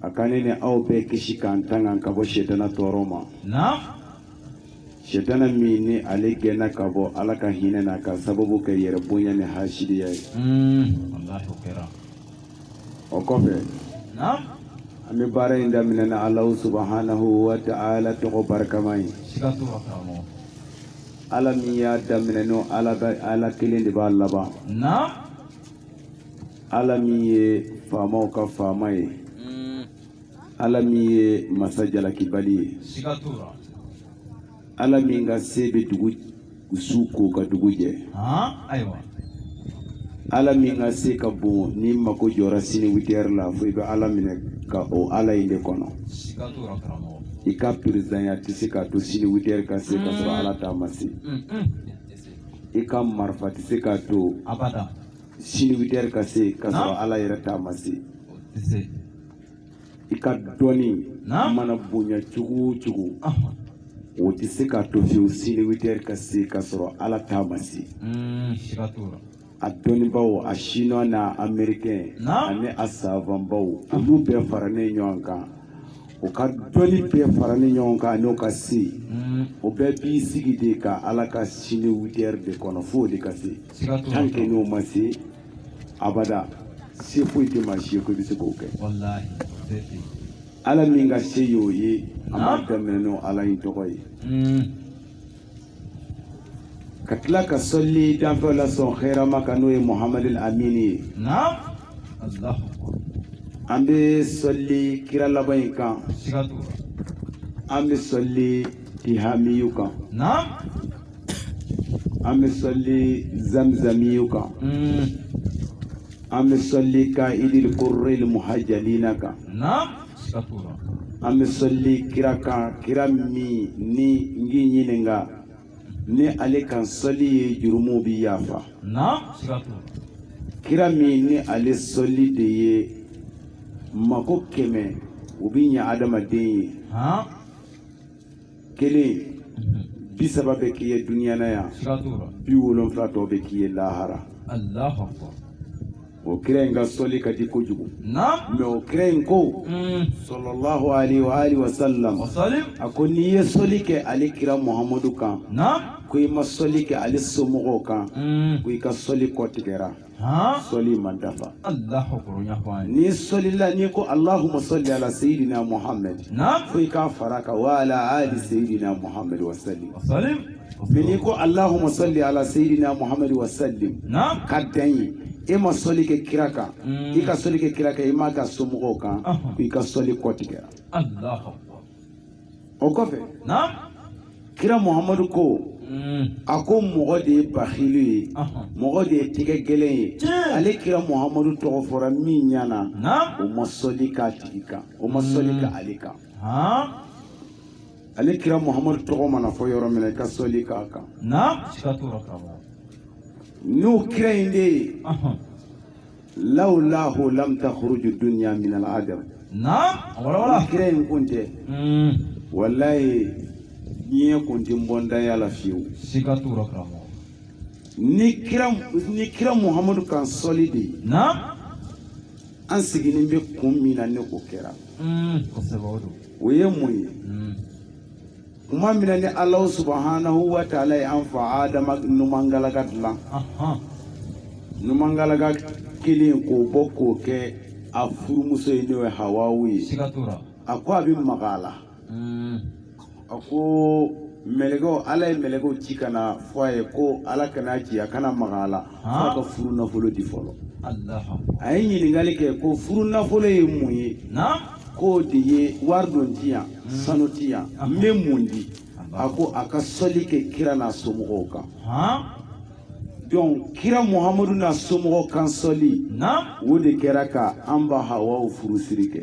a ka ne ni aw bɛɛ kisi k'an tanga ka bɔ setana tɔɔrɔ ma setana min ni ale gɛnna ka bɔ ala ka hinɛ na ka sababu kɛ yɛrɛ bonya ni hasidiya ye o kɔfɛ an bɛ baara in daminɛ ni alahu subahanahu wa ta'ala tɔgɔ barikama ye ala min y'a daminɛ n'o ala kelen de b'a laban ala min ye faamaw ka faama ye mm. ala min ye masa jalakibali ye ala min ka se bɛ dugu su ko ka dugu jɛ ala min ka se ka bon ni mako jɔra sini witɛri la fo i bɛ ala minɛ ka o ala in de kɔnɔ i ka perezidanya tɛ se k'a to sini witɛri ka se ka sɔrɔ ala ta ma se i ka marifa tɛ se k'a to sini witɛri ka se ka sɔrɔ ala yɛrɛ ta ma se i ka dɔnni mana bonya cogo o cogo o tɛ se k'a to fiyewu sini witɛri ka se ka sɔrɔ ala ta ma se hmm, a dɔnnibaaw a chinois n'a américain ani a savanbaw olu bɛɛ faralen ɲɔgɔn kan o ka dɔnni bɛɛ faralen ɲɔgɔn kan n'o ka se o bɛɛ b'i sigi de ka ala ka sini witɛri de kɔnɔ fo o de ka se tant que n'o ma se abada se foyi tɛ maa si ye ko i bɛ se k'o kɛ ala min ka se y'o ye an b'a daminɛ n'o ala in tɔgɔ ye hmm. ka tila ka sɔli danfɛn lasɔn hɛrɛma kan n'o ye muhamadu amini ye an bɛ sɔli kira laban in kan an bɛ sɔli tihamiyu kan an bɛ sɔli zamzamiyu kan an bɛ sɔli ka'idil gurril muhajalina kan an bɛ sɔli kira kan kira min ni n k'i ɲininka ni ale kan sɔli ye jurumuw bi yafa kira min ni ale sɔli de ye mako kɛmɛ o bi ɲɛ adamaden ye kelen bi saba bɛ k'i ye duniya na yan bi wolonfila tɔ bɛ k'i ye lahara o kira in ka sɔli ka di kojugu mais o kira in ko mm. salalahu alayhi wa alihi wa sallam a ko n'i ye sɔli kɛ ale kira muhamadu kan ko i ma sɔli kɛ ale somɔgɔw kan mm. ko i ka sɔli kɔtigɛra sɔli ma dafa n'i sɔlila n'i ko alahuma sɔli ala seyidina muhammed fo i k'a fara kan wa ala ali seyidina muhammed wa salim mais n'i ko alahuma sɔli ala seyidina muhammed wa salim ka dan yen e ma sɔli kɛ kira kan mm. i ka sɔli kɛ kira kan i m'a k'a somɔgɔw kan i ka sɔli kɔtigɛra o kɔfɛ kira muhamadu ko mm. a ko mɔgɔ de ye bakilu ye mɔgɔ de ye tɛgɛ gɛlɛn ye ale kira muhamadu tɔgɔ fɔra min ɲana o ma sɔli k'a tigi kan o ma sɔli mm. k'ale kan ale kira muhamadu tɔgɔ mana fɔ yɔrɔ min na i ka sɔli k'a kan n'o kira in de ye lawlahu lam takhruju dunya min al-adam naam wala wala kira in kun tɛ mm wallahi diɲɛ kun tɛ bɔ ntanya la fiyewu siga t'o rɔ karamɔgɔ ni kira ni kira muhamadu kan sɔli de ye naam an sigilen bɛ kun min na ni o kɛra mm kosɛbɛ o don o ye mun ye mm kuma min na ni Alahu subahanahu wa taala ye an fa Adama numan galaka dilan numan galaka kelen k'o bɔ k'o kɛ a furumuso ye n'o ye Hawawu ye a ko a bɛ maga a la hmm. a ko mɛlɛkɛw Ala ye mɛlɛkɛw ci ka na fɔ a ye ko Ala kana ci a kana maga a la ka furu nafolo di fɔlɔ a ye ɲininkali kɛ ko furu nafolo ye mun ye k'o de ye wari don tɛ yan hmm. sanu tɛ yan n bɛ mun di a ko a ka sɔli kɛ kira n'a somɔgɔw kan donc kira muhamadu n'a somɔgɔw kan sɔli o de kɛra ka an ba hawawu furusiri kɛ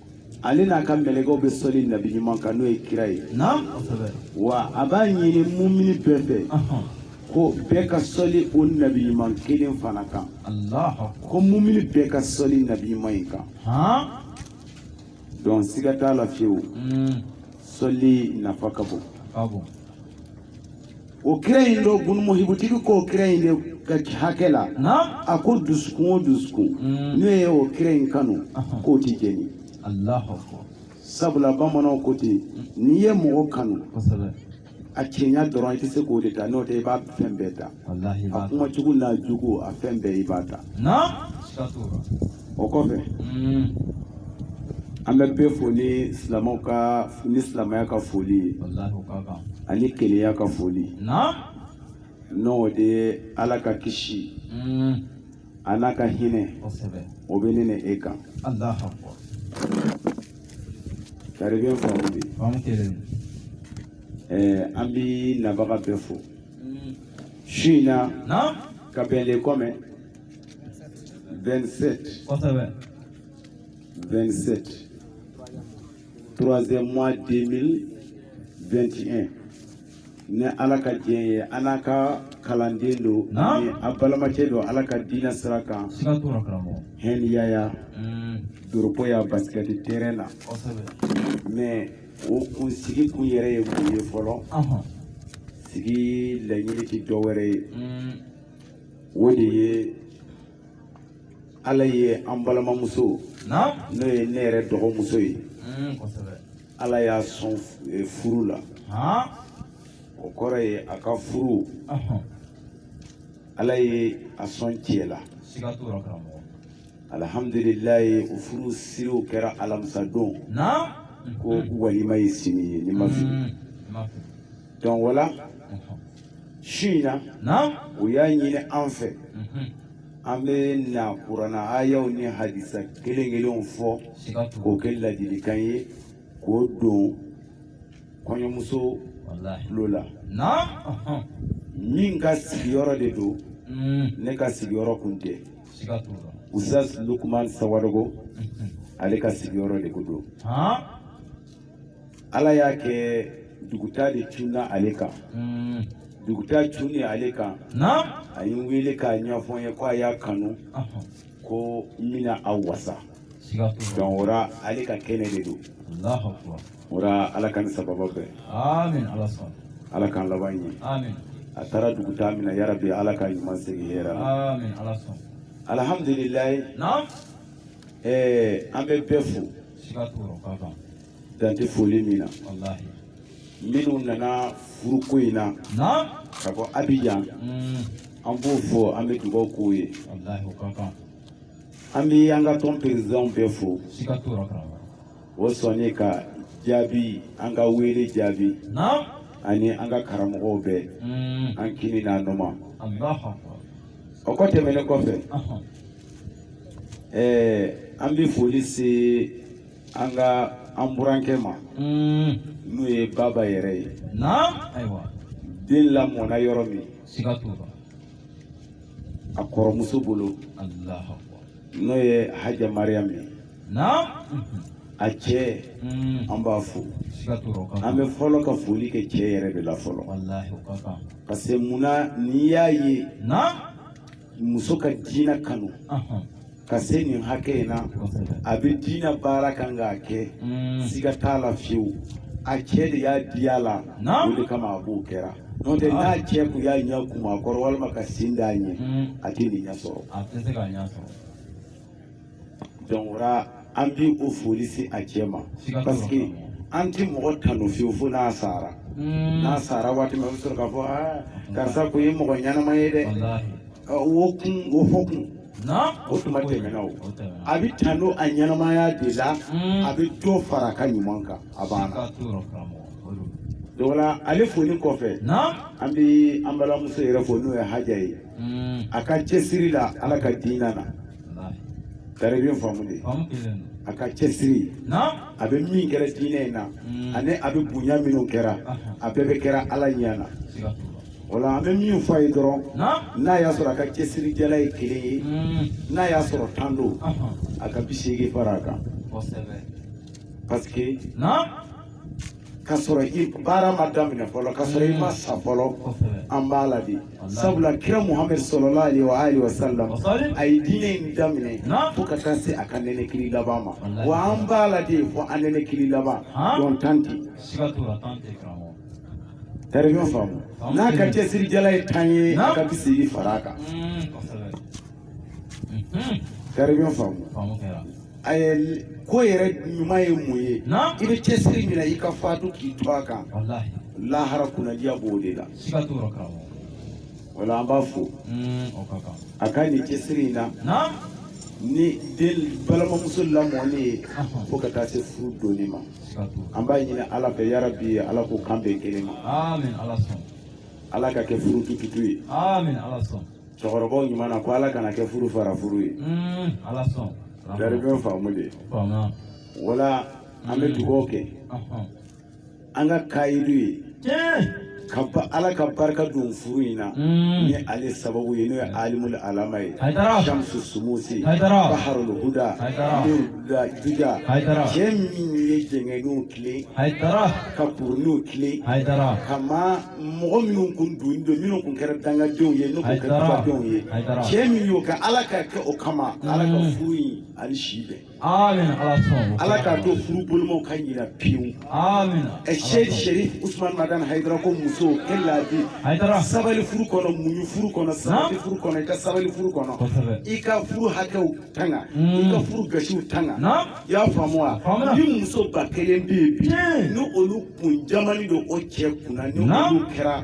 ale n'a ka mɛlɛkɛw bɛ sɔli nabi ɲuman kan n'o ye kira ye wa a b'a ɲini mumini bɛɛ fɛ ko bɛɛ ka sɔli o nabi ɲuman kelen fana kan ko mumini bɛɛ ka sɔli nabi ɲuman in kan donc siga t'a la fiyewu sɔli nafa ka bon o kira in don bunu muhibu tigi k'o kira in de ka hakɛ la a ko dusukun o dusukun mm. n'o ye o kira in kanu k'o tɛ jeni sabula bamananw ko ten n'i ye mɔgɔ kanu a cɛɲa dɔrɔn i tɛ se k'o de ta n'o tɛ i b'a fɛn bɛɛ ta a kumacogo n'a jogo a fɛn bɛɛ i b'a ta o kɔfɛ mm. an bɛ bɛɛ fo ni silamɛw ka ni silamɛya ka foli ye ani kelenya ka foli n'o de ye ala ka kisi mm. a n'a ka hinɛ o bɛ ne ni e kan taribiɲɛ faamu de an bɛ nabaga bɛɛ fo mm. su in na ka bɛn le kɔmɛ 27 kosɛbɛ 27 troisième mois 2021 ni ala ka diɲɛ ye an n'a ka kalanden don ni a balamacɛ don ala ka diinɛ sira kan hɛniyaya mm. doropo yan basket terrain na mais o kun sigi kun yɛrɛ ye mun ye fɔlɔ sigi laɲini ti dɔ wɛrɛ ye mm. o de ye ala ye an balimamuso n'o ye ne yɛrɛ dɔgɔmuso ye hmm, ala y'a sɔn eh, furu la o kɔrɔ ye a ka furu ala ye a sɔn cɛ la alhamdulilayi o furu siriw kɛra alamisa don ko walima ye sini ye ni n ma fili hmm, donc wala Su in na u y'a ɲini an fɛ mhm. an bɛ na kurana ayaw ni hadisa kelen kelenw fɔ k'o kɛ ladilikan ye k'o don kɔɲɔmuso tulo la min ka sigiyɔrɔ de don mhm. ne ka sigiyɔrɔ kun tɛ ustaz lukuman sawadogo mhm. ale ka sigiyɔrɔ de kun don ala y'a kɛ duguta de cunna ale kan hmm. duguta cunni ale kan a ye n wele k'a ɲɛfɔ n ye ko a y'a kanu ko n bɛna a wasa donc o ra ale ka kɛnɛ de don o ra ala k'an ni sawaba bɛn ala k'an laban ɲɛ a taara duguta min na yarabi ala k'a ɲuman segin hɛrɛ la alhamdulilayi ɛɛ an bɛ bɛɛ fo dan tɛ foli min na minnu nana furuko in na ka bɔ abijan mm. an b'o fo an bɛ dugawu k'o ye an bɛ an ka tɔn perezidanw bɛɛ fo o sɔnni ka jaabi an ka wele jaabi ani an ka karamɔgɔw bɛɛ mm. an kinin n'an numan o kɔ tɛmɛnen kɔfɛ ɛɛ an bɛ foli se an ka an burankɛ ma n'o ye baba yɛrɛ ye ayiwa den lamɔna yɔrɔ min siga t'o la a kɔrɔmuso bolo n'o ye haja mariyamu ye a cɛ an b'a fo an bɛ fɔlɔ ka foli kɛ cɛ yɛrɛ de la fɔlɔ parce que munna n'i y'a ye muso ka diinɛ kanu ka se nin hakɛ in na a bɛ diinɛ baara kan k'a kɛ mm. siga t'a la fiyewu a cɛ de y'a di a la o de kama a b'o kɛra n'o tɛ n'a cɛ kun y'a ɲɛ kumu a kɔrɔ walima ka sen d'a ɲɛ mm. a tɛ nin ɲɛ sɔrɔ donc o la an bi o foli se a cɛ ma parce que an tɛ mɔgɔ tanu fiyewu fo n'a sara hmm. n'a sara waati min a bɛ sɔrɔ k'a fɔ aa karisa kun ye mɔgɔ ɲɛnama ye dɛ o kun o fɔ kun o tuma tɛmɛna o a bɛ tanu a ɲɛnamaya de la hmm. a bɛ dɔ fara a ka ɲuman kan a banna donc o la ale foli kɔfɛ an bɛ an balimamuso yɛrɛ fo n'o ye haja ye. mm. a ka cɛsiri la ala ka diina na tari bɛ faamu de a ka cɛsiri a bɛ min kɛra diinɛ in na mm. ani a bɛ bonya minnu kɛra a bɛɛ bɛ kɛra ala ɲɛ na o la an bɛ min fɔ a ye dɔrɔn n'a y'a sɔrɔ a ka cɛsirijala ye kelen ye mm. n'a y'a sɔrɔ tan don a ka bi seegin fara a kan parce que ka sɔrɔ i baara ma daminɛ fɔlɔ ka sɔrɔ i ma sa fɔlɔ an b'a la de sabula kira muhammed sallallahu alaihi wa alihi wasallam a ye diinɛ in daminɛ fo ka taa se a ka nɛnɛkili laban ma wa an b'a la de fo an nɛnɛkili laban donc tan tɛ tari bɛ faamu n'a ka cɛsirijala ye tan ye a ka bi seegin fara a kan tari bɛ faamu a ye ko yɛrɛ ɲuman ye mun ye i bɛ cɛsiri min na i ka faatu k'i to a kan lahara kunnadiya b'o de la siga t'o rɔ karamɔgɔ o la an b'a fo mm, o ka kan a ka nin cɛsiri in na naam ni den balimamuso lamɔni ye Ahɔ. fo ka taa se furu donni ma siga t'o rɔ an b'a ɲini ala fɛ yarabi ala k'o kan bɛn kelen ma amin ala sɔn ala ka kɛ furu tututu ye amin ala sɔn cɛkɔrɔbaw ɲuman na ko ala kana kɛ furu fara furu ye Mm, ala sɔn karamɔgɔ tari bɛ faamu de y'a faamu o la an bɛ dugaw kɛ ahɔn an ka kayidu ye ko ala ka barika don furu in na ni ale sababu ye n'o ye alimul alama ye shamsu shumusi baharul huda da juja cɛ min ye jɛngɛninw tilen ka kuruninw tilen ka maa mɔgɔ minnu kun don don minnu kun kɛra dangadenw ye n'u kun kɛra dubadenw ye cɛ min y'o kɛ ala ka kɛ o kama ala ka furu in ani si bɛn ala k'a to furu bolomaw ka ɲina pewu sheikh sherif usman madan hayidara ko muso in laadi sabali furu kɔnɔ muɲu furu kɔnɔ sabali furu kɔnɔ i ka sabali furu kɔnɔ i ka furu hakɛw tanga i ka furu gasiw tanga i y'a faamu wa ni muso ba kelen bɛ yen bi ni olu kun jamannin don o cɛ kunna ni olu kɛra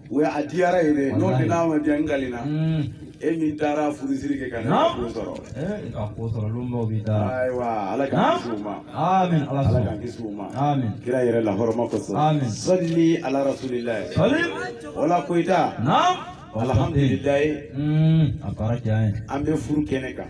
o ye a diyara ye dɛ n'o Walayi. tɛ n'a ma diya n kalina Mm. e min taara furusiri kɛ ka ne Naam. ko sɔrɔ Eh, i ka ko sɔrɔ lonbaw b'i da ayiwa ala k'an Naam. kisi u ma amin ala ala k'an kisi u ma amin kira yɛrɛ la hɔrɔma kosɔn Amin. sɔli ala rasulilayi salim wala koyita naam alhamdulilayi Mm, a baara diya n ye an bɛ furu kɛnɛ kan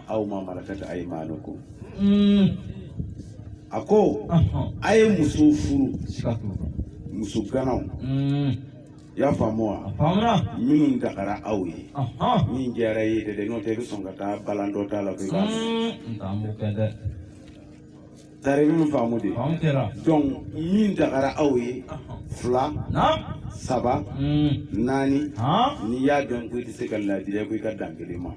aw ma malakat aymanukum a ko a ye muso furu muso ganaw i y'a faamu wa minnu dagara aw ye min diyara i ye dɛ n'o tɛ i bɛ sɔn ka taa balan dɔ t'a la ko i b'a Tari min faamu de donc min dagara aw ye fila saba naani n'i y'a dɔn ko i tɛ se ka ladiri ko i ka dan kelen ma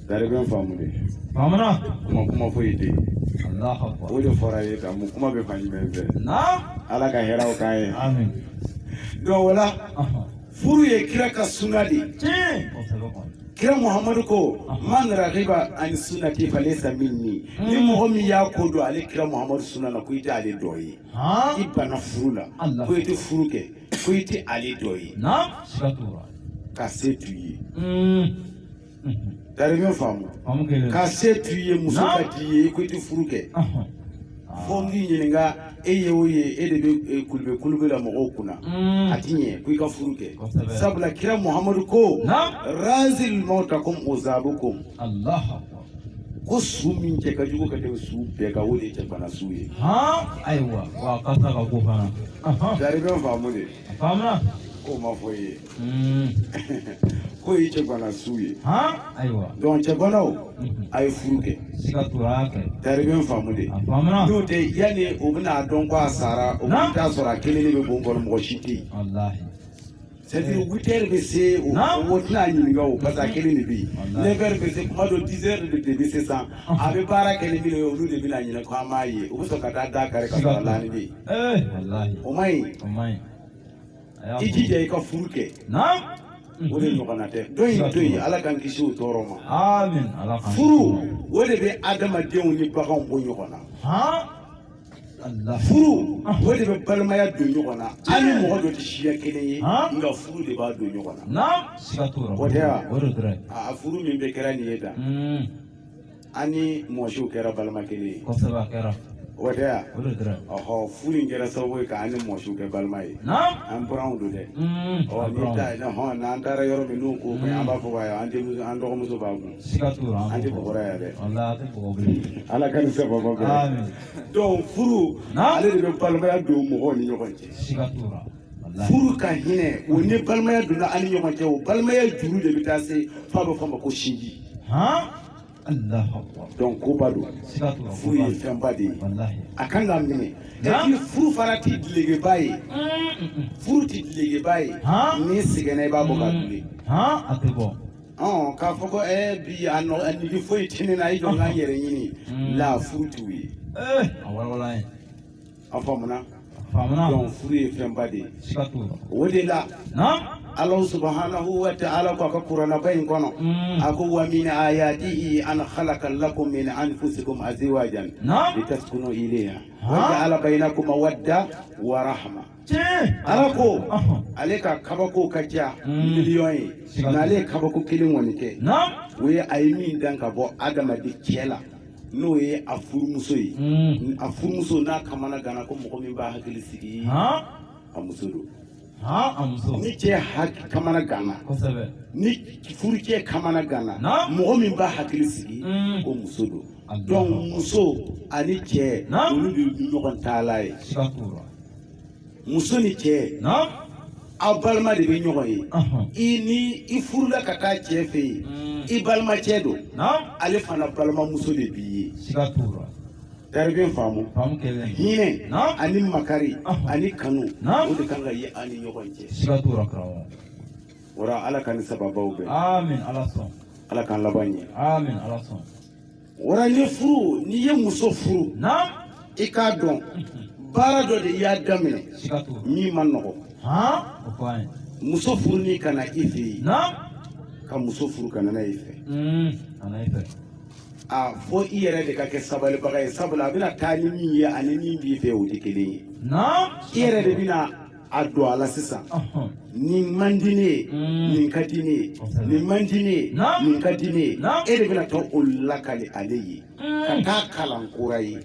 tari bɛ faamu de kuma kuma foyi tɛ o de fɔra ye ka mun kuma bɛ fan jumɛn fɛ ala ka hɛrɛw k'an ye donc o la furu ye kira ka suna de ye kira muhamadu ko man ragiba ani sunnati falesa minni hmm. ni mɔgɔ min y'a kɔ don ale kira muhamadu suna na ko i tɛ ale dɔ ye i banna furu la ko i tɛ furu kɛ ko i tɛ ale dɔ ye ka se t'i ye hmm. Tari mhm. y'o faamu ka se t'i ye muso ka d'i ye i ko i tɛ furu kɛ fo n k'i ɲininka e ye o ye e de bɛ e, kulube kulube la mɔgɔw kunna mm. a ti ɲɛ ko i ka furu kɛ sabula kira muhamadu ko razil mawtakum uzabukum ko su min cɛ ka jugu ka tɛmɛ su bɛɛ kan o de ye cɛgana su ye ayiwa wa a kasa ka go fana jari bɛ faamu de faamuna k'o ma fɔ i ye k'o ye cɛgana su ye ayiwa donc cɛganaw a ye furu kɛ tari bɛ faamu de n'o tɛ yanni o bɛna dɔn ko a sara o bɛ taa sɔrɔ a kelen de bɛ bon kɔnɔ mɔgɔ si tɛ yen c'est-à-dire witɛri bɛ se o o tɛna ɲininka o parce que a kelen de bɛ yen nɛfɛri bɛ se kuma dɔ dizɛri de bɛ se sisan a bɛ baara kɛ ni min ye olu de bɛna ɲininka ko an m'a ye u bɛ sɔn ka taa da kari ka sɔrɔ a laani bɛ yen o man ɲi. i jija i ka furu kɛ o de ɲɔgɔnna tɛ dɔ in to yen ala k'an kisi o tɔɔrɔ ma furu o de bɛ adamadenw ni baganw bɔ ɲɔgɔn na furu o de bɛ balimaya don ɲɔgɔn na an ni mɔgɔ dɔ tɛ siya kelen ye nka furu de b'a don ɲɔgɔn na o tɛ wa a furu min bɛ kɛra nin ye tan an ni mɔsiw kɛra balima kelen ye kosɛbɛ a kɛra o tɛ wa o de kɛra ɔhɔ furu in kɛra sababu ye k'an ni mɔsiw kɛ balima ye naam an buranw don dɛ Mm, ɔ a n'i bɔra. ta ɔhɔn n'an taara yɔrɔ min n'u ko fɛn an b'a fɔ k'a ye an denmuso an dɔgɔmuso b'a kun siga t'o la an tɛ bɔgɔra yan dɛ walayi a tɛ bɔgɔ bilen ala ka nin sababu bɛɛ amin donc furu Naam. ale de bɛ balimaya don mɔgɔw ni ɲɔgɔn cɛ siga t'o la furu ka hinɛ o ni balimaya donna an ni ɲɔgɔn cɛ o balimaya juru de bɛ taa se f'a bɛ fɔ a ma ko sinji donc koba don furu ye fɛnba de ye a kan ka minɛ ni furu fana tɛ dilegeba ye furu tɛ dilegeba ye n'i sɛgɛnna i b'a bɔ k'a dule a tɛ bɔ ɔn k'a fɔ ko ɛɛ bi a nɔ a nege foyi tɛ ne na i jɔ n ka n yɛrɛ ɲini la furu t'o ye a walawala ye A faamuna donc furu ye fɛnba de ye o de la ala subhanahu wa ta'ala k'a ka kuranaba in kɔnɔ a ko wa min ayatihi an khalaqa lakum min anfusikum azwajan litaskunu ilayha wa ja'ala bainakum mawadda wa rahma ala ko ale ka kabako ka ca miliyɔn ye nka ale ye kabako kelen kɔni kɛ o ye a ye min dan ka bɔ adamaden cɛ la n'o ye a furumuso ye a furumuso n'a kamana gana ko mɔgɔ min b'a hakili sigi a muso don ni cɛ kamana gana ni furucɛ kamana gana mɔgɔ min b'a hakili sigi ko muso don donc muso ani cɛ olu de ye ɲɔgɔn tala ye muso ni cɛ aw balima de bɛ ɲɔgɔn ye i ni i furula ka taa cɛ fɛ yen mm. i balimacɛ don ale fana balimamuso de b'i ye tari a bɛ faamu hinɛ ani makari ani kanu o de kan ka ye an ni ɲɔgɔn cɛ wara ala k'an ni sababaw bɛn ala k'an laban ɲɛ Wara ni furu n'i ye muso furu i k'a dɔn baara dɔ de i y'a daminɛ min man nɔgɔ muso furu ni ka na i fɛ yen ka muso furu ka na i fɛ a fo i yɛrɛ de ka kɛ sabalibaga ye sabula a bɛna taa ni min ye ani min b'i fɛ o tɛ kelen ye i yɛrɛ de bɛna a don a la sisan nin man di ne ye nin ka di ne ye nin man di ne ye nin ka di ne ye e de bɛna taa o lakali ale ye ka taa kalan kura ye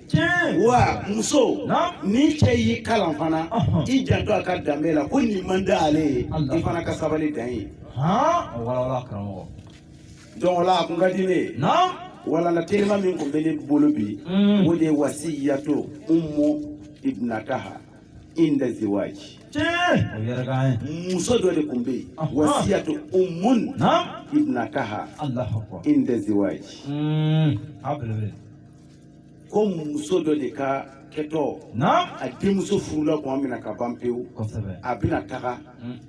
wa muso ni cɛ y'i kalan fana i janto a ka danbe la ko nin man di ale ye i fana ka sabali dan ye donc o la a kun ka di ne ye walana telima min kun bɛ ne bolo bi o de ye wasiyato umu ibnataha inda ziwaji muso dɔ de kun bɛ yen wasiyatu umun ibnataha inda ziwaji ko muso dɔ de ka kɛtɔ a denmuso furula kuma min na ka ban pewu a bɛna taga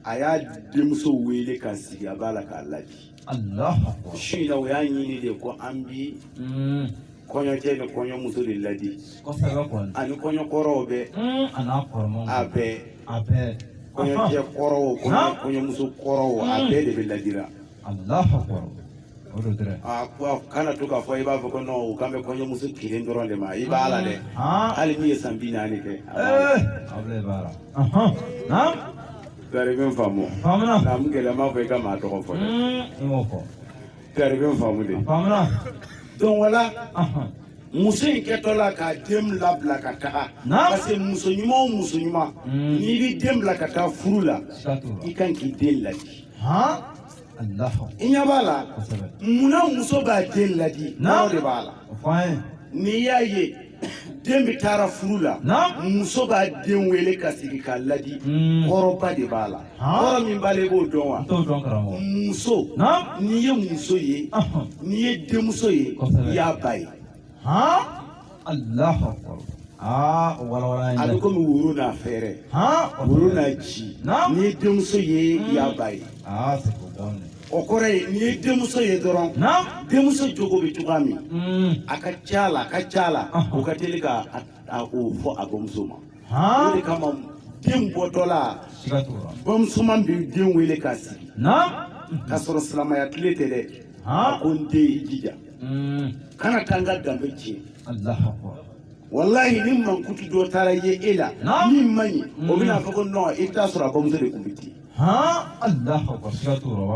a y'a denmuso wele ka sigi a b'a la k'a laadi su in na o y'a ɲini de ko an bi kɔɲɔ cɛ ni kɔɲɔ muso de ladi ani kɔɲɔ kɔrɔw bɛɛ a bɛɛ kɔɲɔ cɛ kɔrɔw kɔɲɔmuso kɔrɔw a bɛɛ de bɛ ladira kana to k'a fɔ i b'a fɔ ko non k'an bɛ kɔɲɔmuso kelen dɔrɔn de ma i b'a la dɛ hali min ye san bi naani kɛ tari i bɛ n faamu naamu kela m'a fɔ i ka maa tɔgɔ fɔ dɛ Tari i bɛ faamu de. Faamuna. Donc wala. Ɔhɔn. muso in kɛtɔla k'a den labila ka taga parce que muso ɲuman o muso ɲuman hmm. n'i bɛ den bila ka taa furu la i kan k'i den ladi i ɲɛ b'a la munna muso b'a den ladi kɔrɔ de b'a la n'i y'a ye den bɛ taara furu la muso b'a den wele k'a sigi k'a ladi hmm. kɔrɔba de b'a la kɔrɔ min b'a la i b'o dɔn wa muso n'i ye muso ye n'i ye denmuso ye i y'a ba ye a bɛ komi woro n'a fɛɛrɛ woro n'a ji n'i ye denmuso ye i y'a ba ye O kɔrɔ ye n'i ye denmuso ye dɔrɔn denmuso jogo bɛ cogoya min mm. a ka ca la a ka ca la o ka teli ka o fɔ a bamuso ma o de kama den bɔtɔla bamusoman bɛ den wele k'a sigi k'a sɔrɔ silamɛya tile tɛ dɛ a ko n den i jija mm. kana taa n ka danbe tiɲɛ walayi ni mankutu dɔ taara ye e la min man ɲi o bɛna fɔ ko non i t'a sɔrɔ a bamuso de tun bɛ ten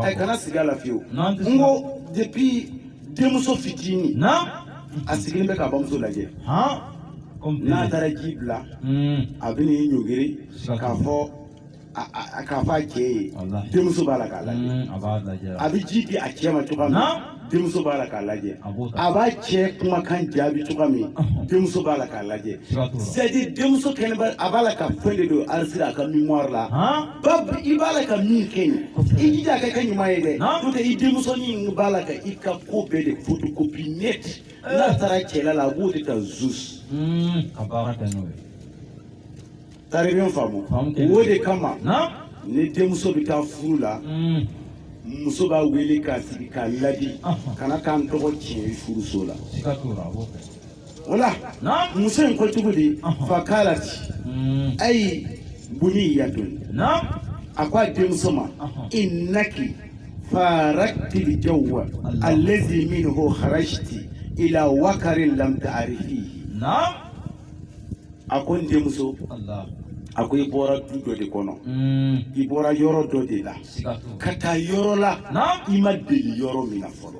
e kana sigi a la fiyewu n ko depuis denmuso fitini a sigilen bɛ k'a bamuso lajɛ n'a taara ji bila a bɛ n'i ɲɔgiri k'a fɔ a cɛ ye denmuso b'a la k'a lajɛ a bɛ ji di a cɛ ma cogoya min na denmuso b'a la k'a lajɛ a b'a cɛ kumakan jaabi cogoya min denmuso b'a la k'a lajɛ c'est à dire denmuso kɛnɛba a b'a la ka fɛn de don enregistrer a ka mémoire la ba i b'a la ka min kɛ yen i jija a ka kɛ ɲuman ye dɛ n'o tɛ i denmusonin b'a la ka i ka ko bɛɛ de photocopie net n'a taara cɛla la a b'o de ta juste hmm, ka baara kɛ n'o ye Tari i bɛ n faamu o de kama ni denmuso bɛ taa furu la mm. muso b'a wele k'a sigi k'a ladi kana t'an tɔgɔ tiɲɛ furuso la wala muso in ko cogo di fakalati mm. ayi bunayyatun a ko a denmuso ma innaki farakti al jawwa allazi minhu kharajti ila wakarin lam ta'rifihi a ko n denmuso a ko i bɔra du dɔ de kɔnɔ mm. i bɔra yɔrɔ dɔ de la ka taa yɔrɔ la i ma deli yɔrɔ min na fɔlɔ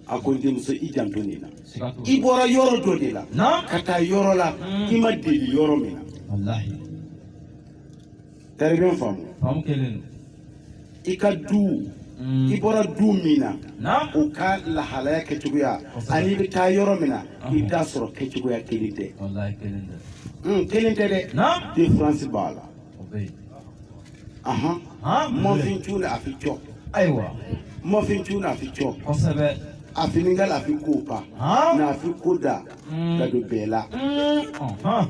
a ko n denmuso i janto nin na i bɔra yɔrɔ dɔ de la ka taa yɔrɔ la mm. i ma deli yɔrɔ min na Tari bɛ ɲɔgɔn faamu. Faamu kelen don. I ka du. Mm. I bɔra du min na. Naamu. U ka lahalaya kɛcogoya. Kosɛbɛ. Ani i bɛ taa yɔrɔ min na. Ɔnhɔn. I bɛ taa sɔrɔ kɛcogoya kelen tɛ. Walayi kelen tɛ. Un kelen tɛ dɛ. Naamu. Différence b'a la. O bɛ yen. Ahan. Han. Mɔfin tu la a fi jɔ. Ayiwa. Mɔfin tu la a fi jɔ. Kosɛbɛ. A fini ka la a fi ko pa. Han. Na a fi ko da. Mm. Ka don bɛɛ la. Un. Ɔnhɔn.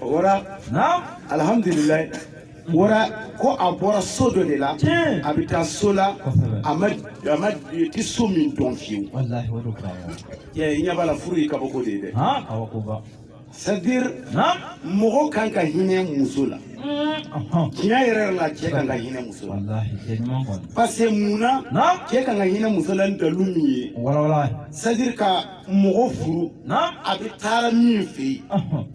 Wara. Naam. Alhamdulilayi. Wara ko a bɔra so dɔ de la. Tiɲɛ. A bɛ taa so la. Kosɛbɛ. A ma a ma a tɛ so min dɔn fiyewu. Walahi o de furu ye. Ɛ i ɲɛ b'a la furu ye kabako de ye dɛ. Han awɔ ko ba. C'est à dire Naam. mɔgɔ kan ka hinɛ muso la. Ɔhɔn. Tiɲɛ yɛrɛ yɛrɛ la cɛ kan ka hinɛ muso la. Walahi cɛ ɲuman kɔni. Parce que mun na Naam. cɛ kan ka hinɛ muso la ni dalu min ye. Walawala. C'est à dire ka mɔgɔ furu a bɛ taara min fɛ yen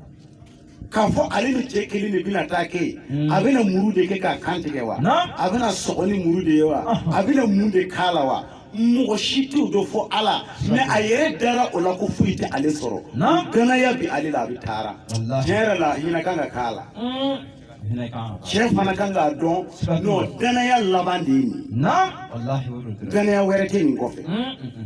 k'a fɔ ale ni cɛ kelen de bɛna taa kɛ yen hmm. a bɛna muru de kɛ k'a kan tigɛ wa a bɛna sɔgɔ ni muru de ye wa a bɛna mun de k'a la wa mɔgɔ si t'o dɔn fɔ ala mais a yɛrɛ dara o la ko foyi tɛ ale sɔrɔ danaya bi ale la a bɛ taara tiɲɛ yɛrɛ la hinɛ kan ka k'a la hmm. cɛ fana kan k'a dɔn non danaya laban de ye nin danaya wɛrɛ tɛ nin kɔfɛ hmm,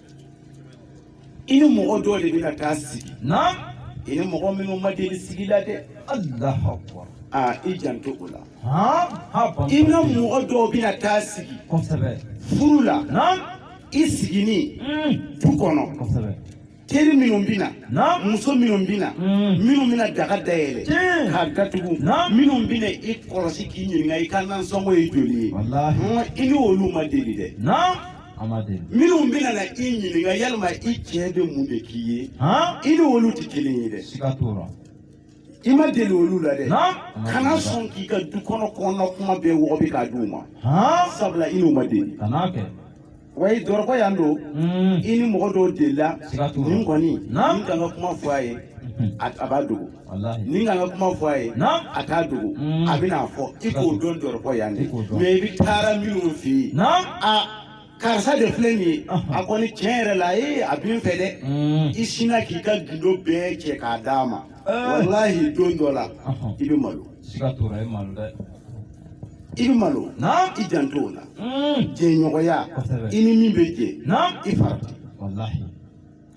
i ni mɔgɔ dɔw de bɛna taa sigi naam i ni mɔgɔ minnu ma deli sigi la dɛ allahu akbar aa i janto o la haa haa ban i ni mɔgɔ dɔw bɛna taa sigi kosɛbɛ furu la naam i sigini Mm. du kɔnɔ kosɛbɛ teri minnu bɛna naam muso minnu bɛna Mm. minnu bɛna daga dayɛlɛ Tiɲɛ. k'a datugu Na. minnu bɛna i kɔlɔsi k'i ɲininka i ka nansɔngɔ ye joli ye walahi Hɔn, i ni olu ma deli dɛ naam minnu bɛna na i ɲininka yalima i cɛ bɛ mun de k'i ye i ni olu tɛ kelen ye dɛ i ma deli olu la dɛ kana sɔn k'i ka du kɔnɔ kɔnɔna kuma bɛɛ wɔgɔbɛ k'a di u ma sabula i n'u ma deli wa i dɔrɔkɔ yan don hmm. i ni mɔgɔ dɔw delila nin kɔni ni n ka n ka kuma fɔ a ye a b'a dogo ni n ka n ka kuma fɔ a ye a t'a dogo mm. a bɛna fɔ i k'o dɔn dɔrɔkɔ yan de mais i bɛ taara minnu fɛ yen karisa de filɛ nin ye a kɔni tiɲɛ yɛrɛ la ee a bɛ n fɛ dɛ mm. i sinna k'i ka gindo bɛɛ cɛ k'a d'a ma eh. walahi don dɔ la i bɛ malo i bɛ malo i janto o la mm. jɛɲɔgɔnya i ni min bɛ jɛ i farati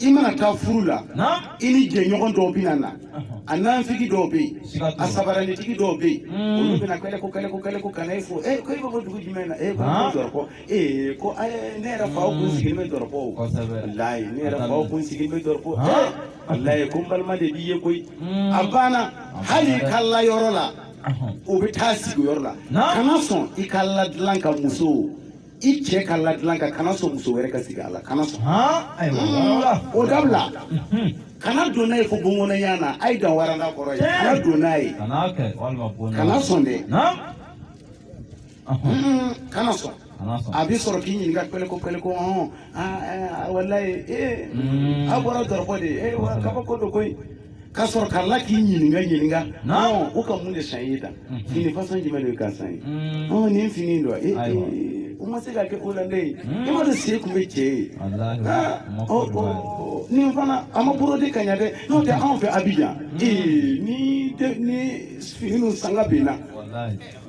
i mana taa furu la i ni jɛɲɔgɔn dɔw bɛna na a nanfigi dɔw bɛ yen a sabaranitigi dɔw bɛ yen hmm. olu bɛna kɛlɛ ko kɛlɛ ko kɛlɛ ko kana e fo ee ko e bɛ bɔ dugu jumɛn na ee ko dɔrɔkɔ ee ko ne yɛrɛ faw kun sigilen bɛ dɔrɔkɔ o walayi ne yɛrɛ faw kun sigilen bɛ dɔrɔkɔ ee walayi ko n balima de b'i ye koyi hmm. a banna hali i ka layɔrɔ la o bɛ taa sigi yɔrɔ la kana sɔn i ka ladilan kan muso i cɛ ka ladilan kan kana sɔn muso wɛrɛ ka sigi a la kana sɔn o dabila kana don n'a ye fo bon kɔnɔ yan na a ye dan waranda kɔrɔ yen kana don n'a ye kana sɔn dɛ kana sɔn a bɛ sɔrɔ k'i ɲininka pɛlɛko pɛlɛko hɔn walayi ee a bɔra dɔrɔkɔ de ye ee wa kabako don koyi ka sɔrɔ ka la k'i ɲininka ɲininka ɔ o ka mun de san i ye tan fini fasɔn jumɛn de ka san ye ɔ nin fini dɔ e o ma se ka kɛ o la ne ye e ma dɔn se tun bɛ cɛ ye nin fana a ma borode ka ɲɛ dɛ n'o tɛ anw fɛ abijan ee ni ni fini sanga binna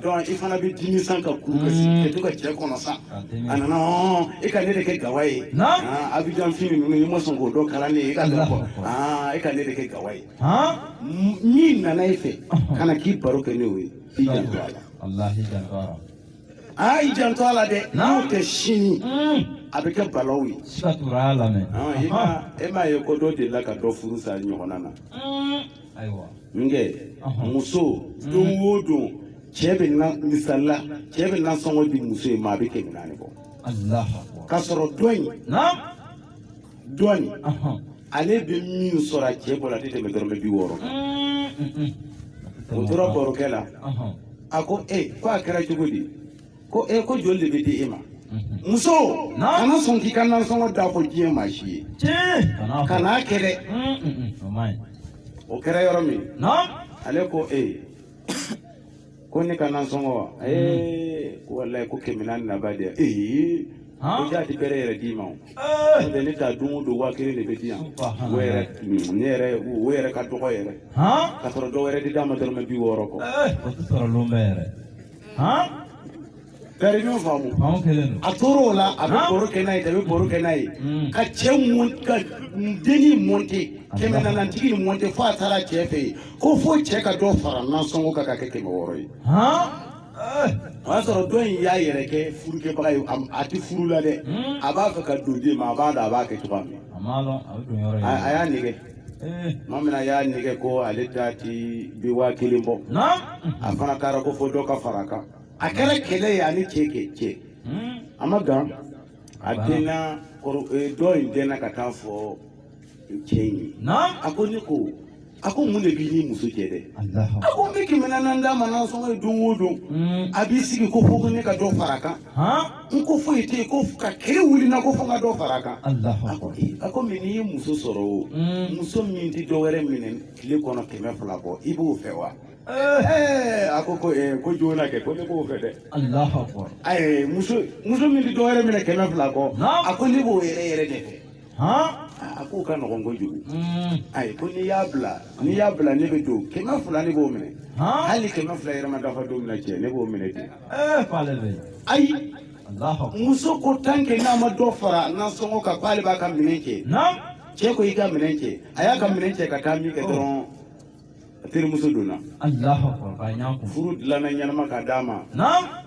donc i fana bɛ dimi sa ka kuru ka sigi mm. ka to ka cɛ kɔnɔ sa a nana e ka ne de kɛ gawa ye ah, abijan fini ninnu i ma sɔn k'o dɔ kala ne ye e ka dɔn kɔ ah, e ka ne de kɛ gawa ye min nana e fɛ ka na k'i baro kɛ n'o ye i janto a la aa ah, i janto a la dɛ n'o tɛ sini mm. a bɛ kɛ balawu ye e m'a ye ko dɔ delila ka dɔ furu sa ɲɔgɔnna na mm. ayiwa min kɛ muso don o don cɛ bɛ na misali la cɛ bɛ nasɔngɔ di muso in ma a bɛ kɛmɛ naani bɔ k'a sɔrɔ dɔ in dɔ in ale bɛ min sɔrɔ a cɛ bolo a tɛ tɛmɛ dɔrɔmɛ bi wɔɔrɔ kan o tora barokɛ la a ko ee ko a kɛra cogo di ko e ko joli de bɛ di e ma muso kana sɔn k'i ka nansɔngɔ da fɔ diɲɛ maa si ye kan'a kɛ dɛ o kɛra yɔrɔ min ale ko e ko ne ka nansɔngɔ wa ee ko walayi ko kɛmɛ naani na ba de ee ko jaa a tɛ bɛrɛ yɛrɛ d'i ma o n'o tɛ ne ta don o don waa kelen de bɛ di yan o yɛrɛ ne yɛrɛ o yɛrɛ ka dɔgɔ yɛrɛ ka sɔrɔ dɔ wɛrɛ tɛ d'a ma dɔrɔmɛ bi wɔɔrɔ kɔ o tɛ sɔrɔ lon bɛɛ yɛrɛ bɛɛ ɲɔgɔn faamu faamu kelen don a tor'o la a bɛ baro kɛ n'a ye a bɛ baro kɛ n'a ye ka cɛ mun ka dennin mɔnte kɛmɛ naanitiginin mɔnte fo a taara cɛ fɛ yen ko fo cɛ ka dɔ fara nasɔngɔ kan ka kɛ kɛmɛ wɔɔrɔ ye o y'a sɔrɔ dɔ in y'a yɛrɛ kɛ furukɛbaga ye a tɛ furu la dɛ a b'a fɛ ka don den ma a b'a da a b'a kɛ cogoya min a y'a nɛgɛ Maa min y'a nɛgɛ ko ale ta tɛ bi waa kelen bɔ a fana kɛra ko fo dɔ ka fara kan a kɛra kɛlɛ ye a ni cɛ kɛ cɛ a ma gan a den dɔ in den ka taa fɔ cɛ in ye a ko ne ko a ko mun de b'i ni muso cɛ dɛ a ko ne bɛ kɛmɛ naani d'a ma nasɔngɔ ye don o don a b'i sigi ko fo ko ne ka dɔ fara kan n ko foyi tɛ yen ko ka kɛlɛ wuli n na ko fo n ka dɔ fara a kan Alahu a ko akbar. ee, a ko mɛ n'i ye muso sɔrɔ o Mm. muso min tɛ dɔ wɛrɛ minɛ tile kɔnɔ kɛmɛ fila kɔ i b'o fɛ wa Ɛɛ, a ko ko ee, ko joona kɛ ko ne b'o fɛ dɛ Alahu akbar. ayi muso muso min tɛ dɔ wɛrɛ minɛ kɛmɛ fila kɔ Naam. a ko ne b'o yɛrɛ yɛrɛ de fɛ a k'o ka nɔgɔn kojugu ayi ko n'i y'a bila n'i y'a bila ne bɛ don kɛmɛ fila ne b'o minɛ hali kɛmɛ fila yɛrɛ ma dafa don min na cɛ ne b'o minɛ dɛ ayi muso ko tan kɛ n'a ma dɔ fara nasɔngɔ kan k'ale b'a ka minɛn kɛ cɛ ko i ka minɛn kɛ a y'a ka minɛn cɛ ka taa min kɛ dɔrɔn terimuso donna furu dilanna ɲɛnama ka d'a ma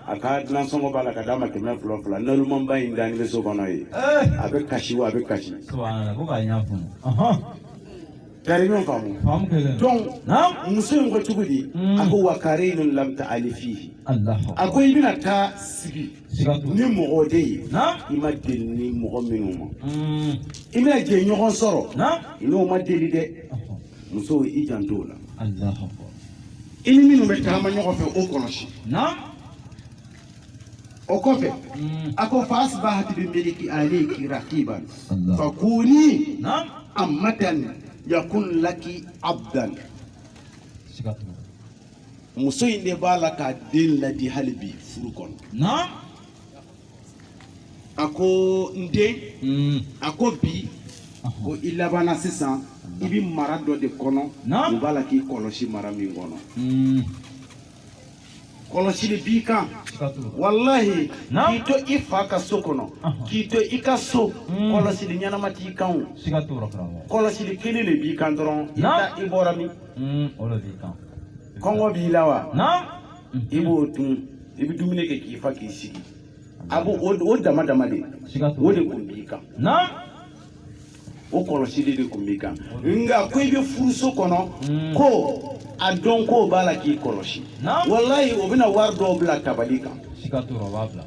a ka nasɔngɔ b'a la ka d'a ma kɛmɛ fila fila nalomanba in dani bɛ so kɔnɔ yen eh. a bɛ kasi wa a bɛ kasi gari ɲɔgɔn faamu donc muso in ko cogo di a ko wa karinun lam taalifihi a ko i bɛna taa sigi ni mɔgɔ de ye i ma deli ni mɔgɔ minnu ma hmm. i bɛna jɛɲɔgɔn sɔrɔ i n'o ma deli dɛ muso i janto o la i ni minnu bɛ taama ɲɔgɔn fɛ o kɔlɔsi o kɔfɛ hmm. a ko fa asibahati bi miliki alayki rakiban fa kuni amatan yakun laki abdan muso in de b'a la k'a den laadi hali bi furu kɔnɔ naam a ko n den Mm. a ko bi ko i labanna sisan i bɛ mara dɔ de kɔnɔ Naam. o b'a la k'i kɔlɔsi mara min kɔnɔ Mm. kɔlɔsili b'i kan Siga t'o la. walahi Naam. k'i to i fa ka so kɔnɔ Ahɔ. k'i to i ka so Mm. kɔlɔsili ɲɛnama t'i kan o Siga t'o la karamɔgɔ. kɔlɔsili kelen de b'i kan dɔrɔn i Naam. ta i bɔra min Mm, o de b'i kan. kɔngɔ b'i la wa Naam. i b'o dun i bɛ dumuni kɛ k'i fa k'i sigi a b'o o o dama dama de Siga t'o o de la. tun b'i kan Naam. o kɔlɔsili de tun b'i kan nka ko i bɛ furuso kɔnɔ Mm. ko a dɔn k'o b'a la k'i kɔlɔsi Naam. walayi o bɛna wari dɔw bila tabali kan Siga t'o la, o b'a bila.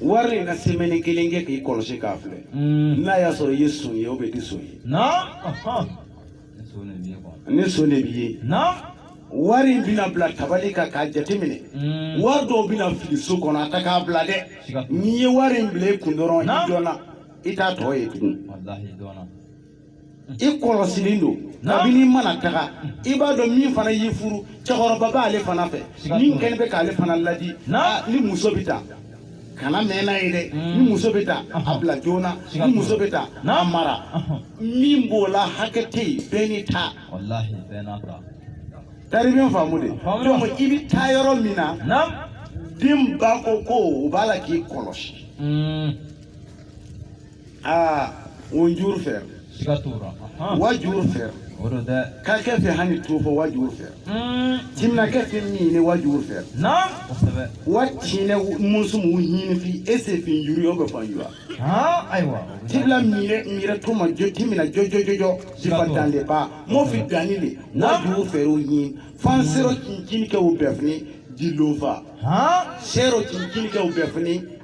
wari in na semɛni kelen kɛ k'i kɔlɔsi k'a filɛ Mm. n'a y'a sɔrɔ i ye son ye o bɛ di son ye Naam. Ahan. ni son de b'i ye wari in bɛna bila tabali kan k'a jateminɛ mm. wari dɔw bɛna fili so kɔnɔ a ta k'a bila dɛ n'i ye wari in bila i kun dɔrɔn i dɔnna i t'a tɔ ye tugun i kɔlɔsilen don kabini i mana taga i b'a dɔn min fana y'i furu cɛkɔrɔba b'ale fana fɛ min kɛlen bɛ k'ale fana ladi ni muso bɛ taa kana mɛn n'a ye dɛ mm. ni muso bɛ ta a bila joona ni muso bɛ ta n'a mara min b'o la hakɛ tɛ yen bɛɛ n'i ta taribiɲɛ faamu de donc i bɛ taa yɔrɔ min na den ba ko ko o b'a la k'i kɔlɔsi mm. aa o juru fɛ siga t'o la ahan. wa juru fɛ o don dɛ ka kɛ fɛ hami to fɔ wa juru fɛ Mm, timina kɛ fɛ min ne wa juru fɛ naam kosɛbɛ wa tiɲɛ musu mu ɲini fi e se fi juru yɔ bɛ fan jura han ayiwa o bɛ tibila mire mire to ma jo timina jo jo jo jo sifa dan de ba mo fi dani le wa juru fɛ o ɲini fan sero cincin kɛ o bɛɛ fini di lofa han sero cincin kɛ o bɛɛ fini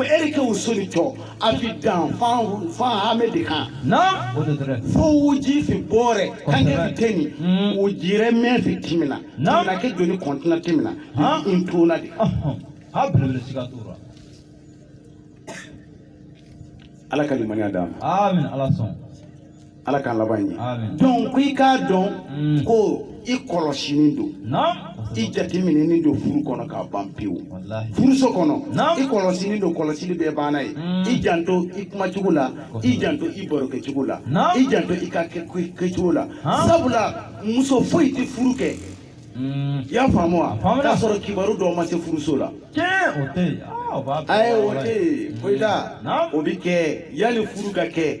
eri ke usuli to afidan fan fan hame de kan na o de dere fo wuji fi bore kan ke fi teni mm. wujire me fi timina na na ke joni kontina timina ha in tona de ha bele siga tura ala ka limaniya da amin ala son ala k'an laban ɲɛ donc ko i k'a dɔn mm. ko i kɔlɔsinin don i jateminɛnin don furu kɔnɔ k'a ban pewu furuso kɔnɔ i kɔlɔsinin don kɔlɔsili bɛɛ banna yen mm. i janto i kumacogo la i janto i barokɛcogo la i janto i ka kɛcogo la sabula muso foyi tɛ furu kɛ mm. i y'a faamu wa k'a sɔrɔ kibaru dɔw ma se furuso la ayi o tɛ yen foyi t'a o bɛ kɛ yanni furu ka kɛ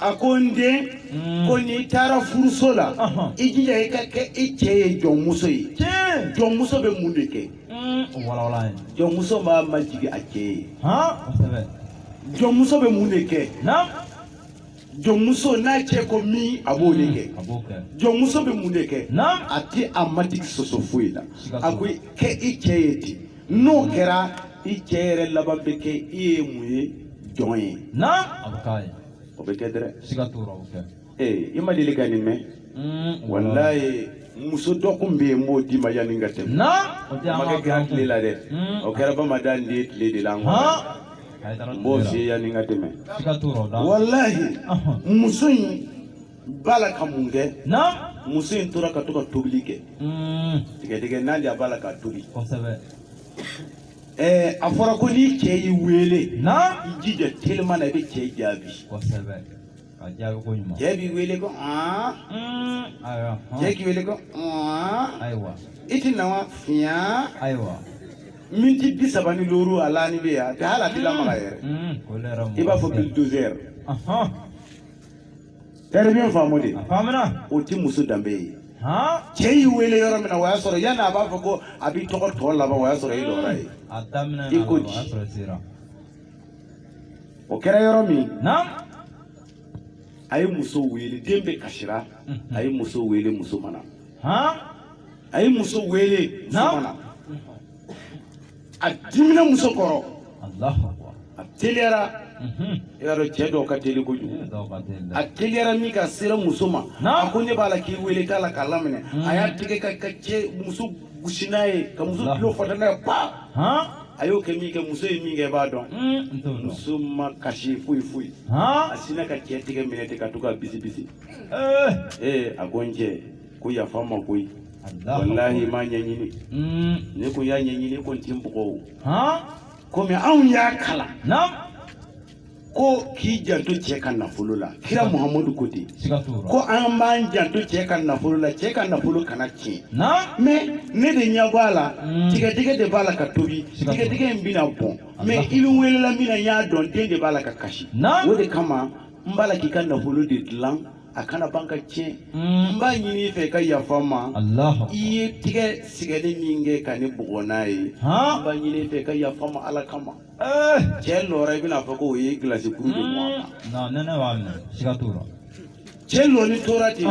a ko n den hmm. ko n'i taara furuso la i jija i ka kɛ i cɛ ye jɔnmuso ye jɔnmuso bɛ mun de kɛ hmm. jɔnmuso b'a majigi a cɛ ye jɔnmuso bɛ mun de kɛ jɔnmuso n'a cɛ ko min a b'o de kɛ hmm, jɔnmuso bɛ mun de kɛ a tɛ a matigi sɔsɔ foyi la a ko kɛ i cɛ ye ten n'o kɛra i cɛ yɛrɛ laban bɛ kɛ i ye mun ye jɔn ye na a bɛ k'a ye o bɛ kɛ dɛrɛ siga t'o la o kɛ ee i ma deli ka nin mɛn Mm, walayi muso dɔ kun bɛ yen n b'o d'i ma yanni n ka tɛmɛ na o tɛ a ma kɛ kira tile la dɛ Mm. o kɛra bamadan de ye tile de la n kɔnɔ han a ye taara n b'o tile la f'i ye yanni n ka tɛmɛ siga t'o la o da walayi Ahun. muso in b'a la ka mun kɛ muso in tora ka to ka tobili kɛ mm. tigadɛgɛna de a b'a la ka tobi ɛɛ a fɔra ko ni cɛ y'i wele i jija teliman na i bɛ cɛ jaabi cɛ b'i wele ko mm. cɛ k'i wele ko i ti na wa fiɲɛ miniti bi saba ni duuru a lanin bɛ yan a tɛ hali a tɛ lamaga yɛrɛ mm. i b'a fɔ bulldozer. Terme in faamu dɛ o tɛ muso danbe ye cɛ y'i wele yɔrɔ min na o y'a sɔrɔ yanni a b'a fɔ ko a b'i tɔgɔ tɔ laban o y'a sɔrɔ i lɔra ye i ko di o kɛra yɔrɔ min a ye muso wele den bɛ kasira a ye muso wele muso ma na a ye muso wele muso ma na a dimina muso kɔrɔ a teliyara i y'a dɔn cɛ dɔw ka teli kojugu a teliyara min kɛ a sera muso ma a ko ne b'a la k'i wele i t'a la k'a laminɛ a y'a tigɛ ka cɛ muso gosi n'a ye ka muso tulo fata n'a ye pa a y'o kɛ min kɛ muso ye min kɛ i b'a dɔn hmm, muso ma kasi foyi foyi a sinna ka cɛ tigɛ minɛ ten ka to k'a bisi bisi eh. ee eh, a ko n cɛ ko yafa n ma koyi wallahi n m'a ɲɛɲini mm. ne ko y'a ɲɛɲini ko n ti n bugɔ o komi anw y'a kalan ko k'i janto cɛ ka nafolo la kira muhamadu ko ten ko an b'an janto cɛ ka nafolo la cɛ ka nafolo kana tiɲɛ mais ne de ɲɛ b'a la mm. tigadɛgɛ de b'a la ka tobi tigadɛgɛ in bɛna bɔn mais i bɛ welela min na n y'a dɔn den de b'a la ka kasi o de kama n b'a la k'i ka nafolo de dilan a kana ban ka tiɲɛ n b'a ɲini i fɛ i ka yafa n ma i ye tigɛ sɛgɛnni min kɛ ka ne bugɔ n'a ye n b'a ɲini i fɛ i ka yafa n ma ala kama eh! cɛ lɔra i bɛna fɔ ko o ye gilasi kuru de bɔn a kan nɛnɛ b'a minɛ siga t'o la cɛ lɔni tora ten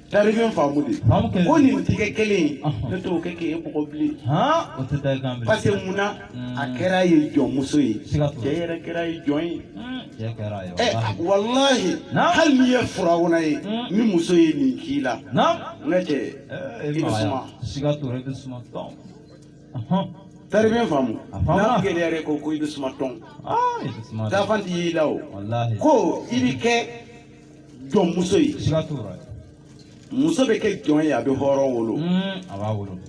Terme in faamu dɛ ko nin tigɛ kelen ne t'o kɛ k'e bugɔ bilen parce que munna a hmm. kɛra ye jɔnmuso ye cɛ yɛrɛ kɛra ye jɔn ye hmm. walayi hali n'i ye firawuna ye hmm. ni muso ye nin k'i la ne cɛ eh, i terme in faamu n'a gɛlɛyara ko ko i bɛ suma tɔn ah, dafan t'i la o ko i bɛ kɛ jɔnmuso ye muso bɛ kɛ jɔn ye a bɛ hɔrɔn wolo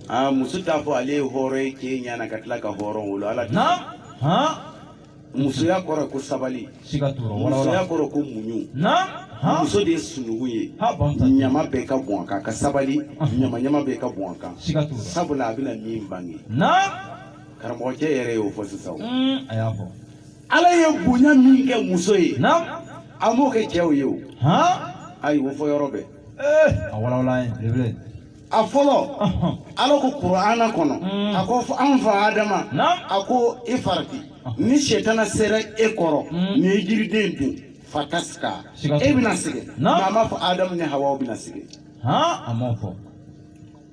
aa muso t'a fɔ ale ye hɔrɔn ye cɛ ɲana ka tila ka hɔrɔn wolo ala musoya kɔrɔ ko sabali musoya kɔrɔ ko muɲu muso de ye sununkun ye ɲama bɛɛ ka bɔn a kan ka sabali ɲama ɲama bɛɛ ka bɔn a kan sabula a bɛna min bange karamɔgɔcɛ yɛrɛ y'o fɔ sisan a y'a fɔ ala ye bonya min kɛ muso ye a m'o kɛ cɛw ye o ayi o fɔ yɔrɔ bɛɛ eh, a walawala ye belebele a fɔlɔ ala ko kurana kɔnɔ hmm. a ko an fa adama a ko i farati ni sɛtana sera e kɔrɔ hmm. n'i ye jiriden dun fatashka e bɛna sɛgɛn nka a m'a fɔ adamu ni hawa bɛna sɛgɛn a m'o fɔ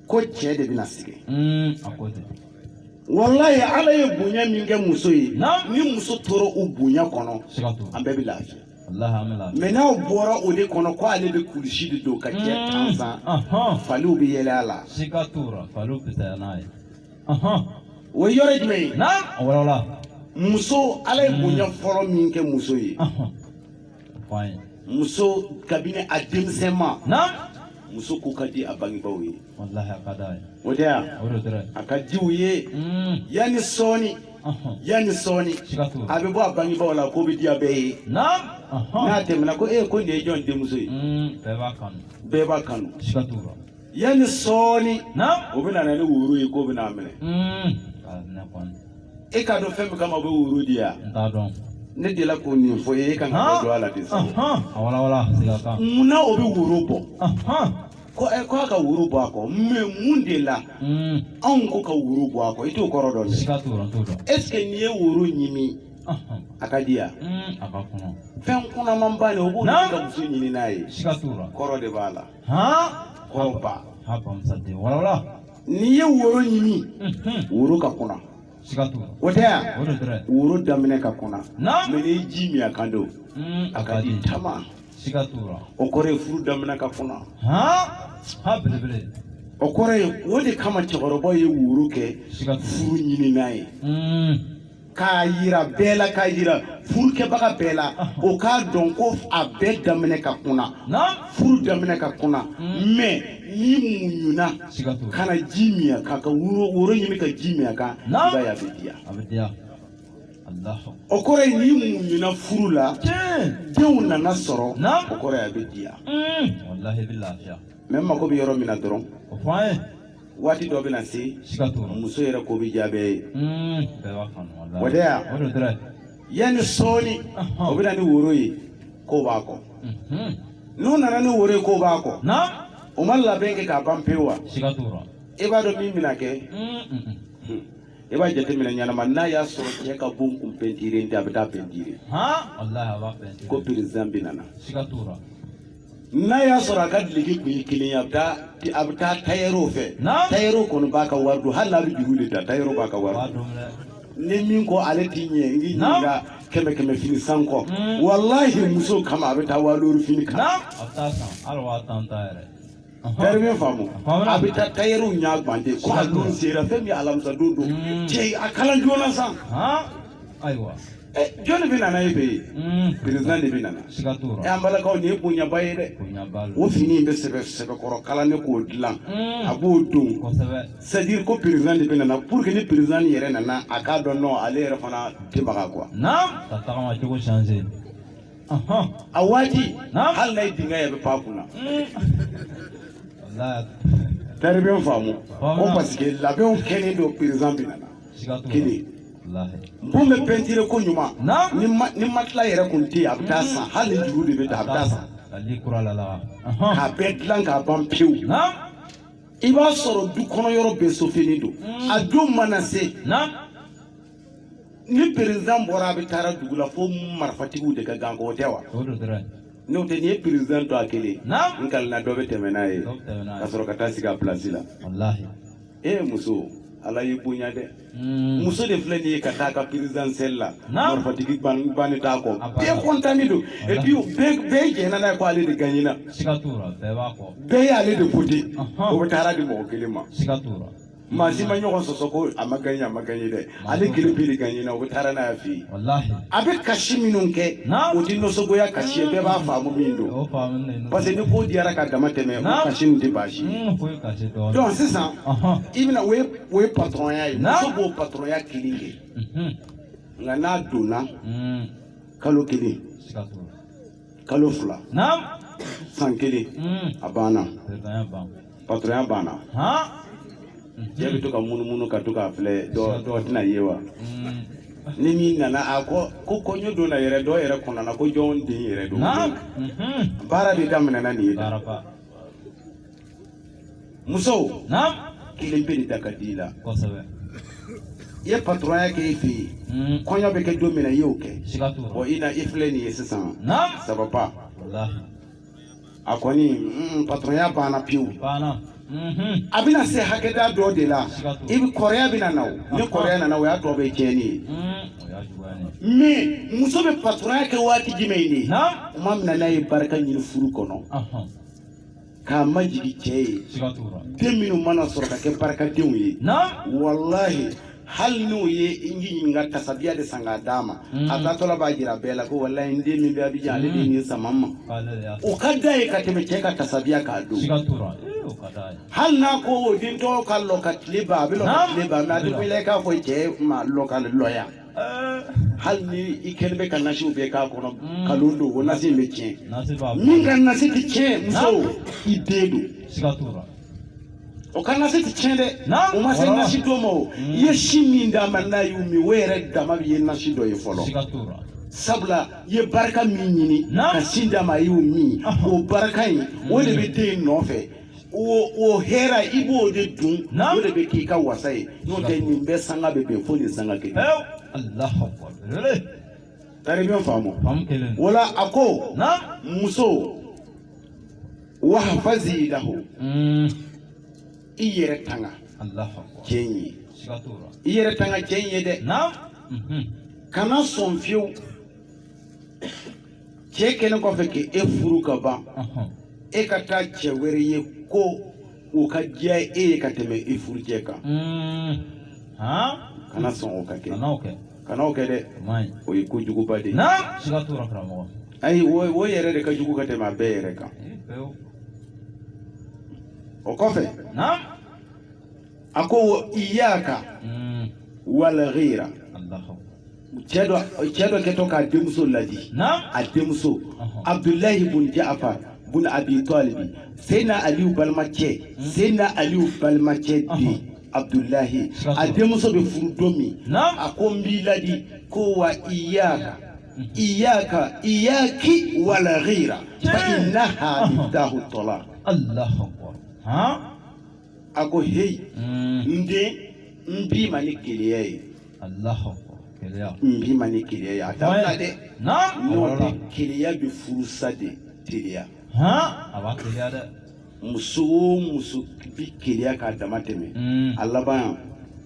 ko cɛ de bɛna sɛgɛn mm, walayi ala ye bonya min kɛ muso ye ni muso tora o bonya kɔnɔ an bɛɛ bɛ lafiya mɛ n'aw bɔra o de kɔnɔ ko ale bɛ kulusi de don k'a cɛ mm. tansan faliw bɛ yɛlɛ a la o ye yɔrɔ jumɛn ye muso ala ye bonya fɔlɔ min kɛ muso ye muso kabini a denmisɛnma muso ko ka di a bangebaaw ye o de a ka di u ye mm. yanni sɔɔni yanni sɔɔni a bɛ bɔ a bangebaaw la ko bɛ diya bɛɛ ye n'a tɛmɛna ko e ko nin ye jɔn denmuso ye mm, bɛɛ b'a kanu yanni sɔɔni o bɛ na ni woro ye k'o bɛ n'a minɛ e k'a dɔn fɛn min kama o bɛ woro di yan ne delila k'o nin fɔ e ka na don a la de munna o bɛ woro bɔ ko ɛ ko a ka woro bɔ a kɔ mɛ mun de la anw ko ka woro bɔ a kɔ i t'o kɔrɔ dɔn dɛ est ce que n'i ye woro ɲimi a ka di yan fɛn kunamanba de o b'o kɛ muso ɲininan ye kɔrɔ de b'a la n'i ye woro ɲimi woro ka kuna o tɛ yan woro daminɛ ka kuna mɛ n'i ye ji min a kan don a ka di tama o kɔrɔ ye furu daminɛ ka kuna o kɔrɔ ye o de kama cɛkɔrɔba ye woro kɛ furu ɲininan ye k'a yira bɛɛ la k'a yira furukɛbaga bɛɛ la o k'a dɔn ko a bɛɛ daminɛ ka kuna furu daminɛ ka kuna hmm. mɛ n'i muɲuna ka na ji min a kan ka woro ɲimi ka ji min a kan i b'a ye a bɛ diya o kɔrɔ ye n'i muɲuna furu la denw nana sɔrɔ o kɔrɔ ye a bɛ diya hmm. mɛ n mago bɛ yɔrɔ min na dɔrɔn waati dɔ bɛna se muso yɛrɛ ko bɛ diya bɛɛ ye o tɛ yan yanni sɔɔni o bɛna ni woro ye k'o b'a kɔ n'u nana ni woro ye k'o b'a kɔ o ma labɛn kɛ k'a ban pewu wa e b'a dɔn min bɛna kɛ i b'a jateminɛ ɲɛnama n'a y'a sɔrɔ cɛ ka bon kun pɛntire tɛ a bɛ t'a pɛntire ko perezidan bɛna na n'a y'a sɔrɔ a ka duloki kun ye kelen ye a bɛ taa a bɛ taa tayɛriw fɛ Naam. tayɛriw kɔni b'a ka wari don hali n'a bɛ juru de ta tayɛriw b'a ka wari don dɛ. ni min ko ale t'i ɲɛ n k'i Naam. ɲininka kɛmɛ kɛmɛ fini san kɔ Mm. walahi muso kama a bɛ taa waa duuru fini kan Naam. A bɛ t'a san hali waa tan ta yɛrɛ. Tari bɛ n faamu a bɛ taa tayɛri ɲɛ gan ten ko a don sera fɛn min alamisadon don cɛ a kala joona sa ayiwa jɔnni bɛ nana e fɛ yen perezidan de bɛ nana an balakaw nin ye bonyaba ye dɛ o fini in bɛ sɛbɛ sɛbɛkɔrɔ kala ne k'o dilan a b'o don c'est à dire ko perezidan de bɛ nana pour que ni perezidan yɛrɛ nana a k'a dɔn ale yɛrɛ fana tɛbaga quoi a waati hali n'a ye dingɛ ye a bɛ pan a kunna tari bɛ n faamu ko parce que labɛnw kɛlen don perezidan bɛ nana kɛ bon bɛ pɛntire ko ɲuman ni matela yɛrɛ kun tɛ yen a bɛ taa san hali ni juru de bɛ ta a bɛ taa san k'a bɛɛ dilan k'a ban pewu i b'a sɔrɔ du kɔnɔ yɔrɔ bɛɛ sofenin don a don mana se ni perezidan bɔra a bɛ taara dugu la fo marifatigiw de ka ganko o tɛ wa n'o tɛ n'i ye perezidan to a kelen n kalina dɔ bɛ tɛmɛ n'a ye ka sɔrɔ ka taa sigi a pilasi la e muso ala y'i bonya dɛ hmm. muso de filɛ nin ye ka taa ka perezidansɛli la marifatigi banni t'a kɔ bɛɛ kɔntani don epi bɛɛ jɛnna n'a ye ko ale de gaɲena bɛɛ y'ale de wote o bɛ taara di mɔgɔ kelen ma maa si ma ɲɔgɔn sɔsɔ ko a ma gaɲɛ a ma gaɲɛ dɛ ale kelen bɛ de gaɲɛ na o bɛ taara n'a ye a fɛ yen walahi a bɛ kasi minnu kɛ Naam. o tɛ nisɔngoya kasi ye bɛɛ b'a faamu min don o faamu ne parce que ni ko diyara ka dama tɛmɛ o Naam. kasi nin tɛ baasi ye foyi ka se dɔɔnin donc sisan Ɔhɔn. i bɛna o ye o ye patɔrɔnya ye Naam. muso b'o patɔrɔnya kelen kɛ Mhm. nka n'a donna Mm. kalo kelen Siga t'o la. kalo fila naam san kelen Mm. a banna Bɛɛ ka ɲi ban. patɔrɔnya banna cɛ bɛ to ka munumunu ka to k'a filɛ dɔ dɔ tɛna ye wa ni min nana a ko ko kɔɲɔ don na yɛrɛ dɔ yɛrɛ kɔnɔ na ko jɔn den yɛrɛ don baara de daminɛna nin ye musow kelen bɛ nin da ka di i la i ye patɔrɔnya kɛ e fɛ yen kɔɲɔ bɛ kɛ don min na i y'o kɛ i filɛ nin ye sisan sababa. A kɔni mm, patɔrɔnya banna pewu. Mhm. a bɛna se hakɛda dɔ de la i bɛ kɔrɔya bɛna na o ni kɔrɔya nana o y'a tɔ bɛɛ tiɲɛni ye mhm. mais muso bɛ patɔrɔnya kɛ waati jumɛn de tuma min na n'a ye barika ɲini furu kɔnɔ k'a majigin cɛ ye den minnu mana sɔrɔ ka kɛ barikadenw ye walahi hali n'o ye n ji ɲininka tasabiya de san k'a d'a ma a taatɔla b'a jira bɛɛ la ko walayi n den min bɛ abijan ale de nin sama n ma o ka d'a ye ka tɛmɛ cɛ ka tasabiya kan don hali n'a ko o den tɔgɔ ka lɔ ka tile ban a bɛ lɔ ka tile ban mɛ a tɛ wele k'a fɔ cɛ ma lɔ ka lɔya hali ni i kɛlen bɛ ka nasiw bɛɛ k'a kɔnɔ kalon don o nasi in bɛ tiɲɛ min ka nasi tɛ tiɲɛ muso i den don o ka nasi tɛ tiɲɛ dɛ o ma se nasi dɔ ma o i ye sin min d'a ma n'a y'o min o yɛrɛ dama de ye nasi dɔ ye fɔlɔ sabula i ye barika min ɲini ka sin d'a ma a y'o min o barika in o de bɛ den in nɔfɛ o hɛrɛ i b'o de dun o de bɛ k'i ka wasa ye n'o tɛ nin bɛɛ sanga bɛ bɛn fo nin sanga kelen tari bɛ faamu wala a ko muso wahfazi lahu mm. i yɛrɛ tanga cɛ in ye i yɛrɛ tanga cɛ in ye dɛ mhm. kana sɔn fiyewu cɛ kɛlen kɔfɛ k'e furu ka ban e ka taa cɛ wɛrɛ ye ko o ka diya e ye ka tɛmɛ e furu cɛ kan mm. kana sɔn o ka kɛ kana o kɛ dɛ o ye ko juguba de ye ayi o yɛrɛ de ka jugu ka tɛmɛ a bɛɛ yɛrɛ kan o kɔfɛ a ko wa iyaka hmm. wal ghira cɛ dɔ cɛ dɔ kɛtɔ k'a denmuso ladi a denmuso abdulahi bun ja'far bun abi talibi seyidina aliyu balimacɛ hmm. seyidina aliyu balimacɛ den abudulayi a denmuso bɛ furu don min a ko n b'i ladi ko wa iyaka iyaka iyaki wal ghira fa innaha miftahu talaq Allahu akbar a ko heyi hmm. n den n b'i ma ni keleya ye Allahu akbar keleya n b'i ma ni keleya ye a dabila dɛ n'o tɛ keleya bɛ furusa de teliya a b'a teliya dɛ muso o muso bɛ keleya k'a dama tɛmɛ mm. a laban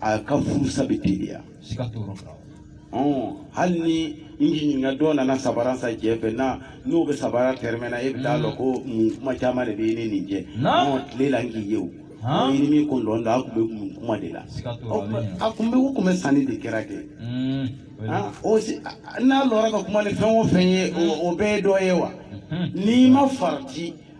a ka furusa bɛ teliya hali ni n ɲininka dɔ nana sabara san cɛ fɛ na n'o bɛ sabara tɛrɛmɛna e bɛ taa mm. lɔ ko mun kuma caman de bɛ ne nin cɛ tile la n k'i ye o ni min kun dɔn da a tun bɛ mun kuma de la a tun bɛ ko tun bɛ sanni de kɛra kɛ mm. n'a lɔra ka kuma ni fɛn o fɛn ye o bɛɛ ye dɔ ye wa mm-hmm. n'i ma farati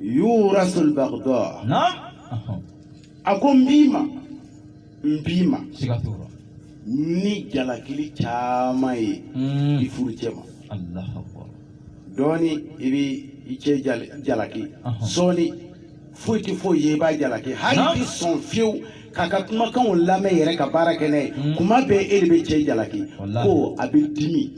yurasul bagda naam a ko n b'i ma n b'i ma siga t'o la ni jalakili caman ye i furucɛ ma alahu akbar dɔɔni i bɛ i cɛ jal- jalaki Ɔhɔn. sɔɔni foyi tɛ foyi ye i b'a jalaki hali Naam. tɛ sɔn fiyewu k'a ka kumakanw lamɛn yɛrɛ ka baara kɛ n'a ye kuma bɛɛ e de bɛ cɛ jalaki Walahi. ko a bɛ dimi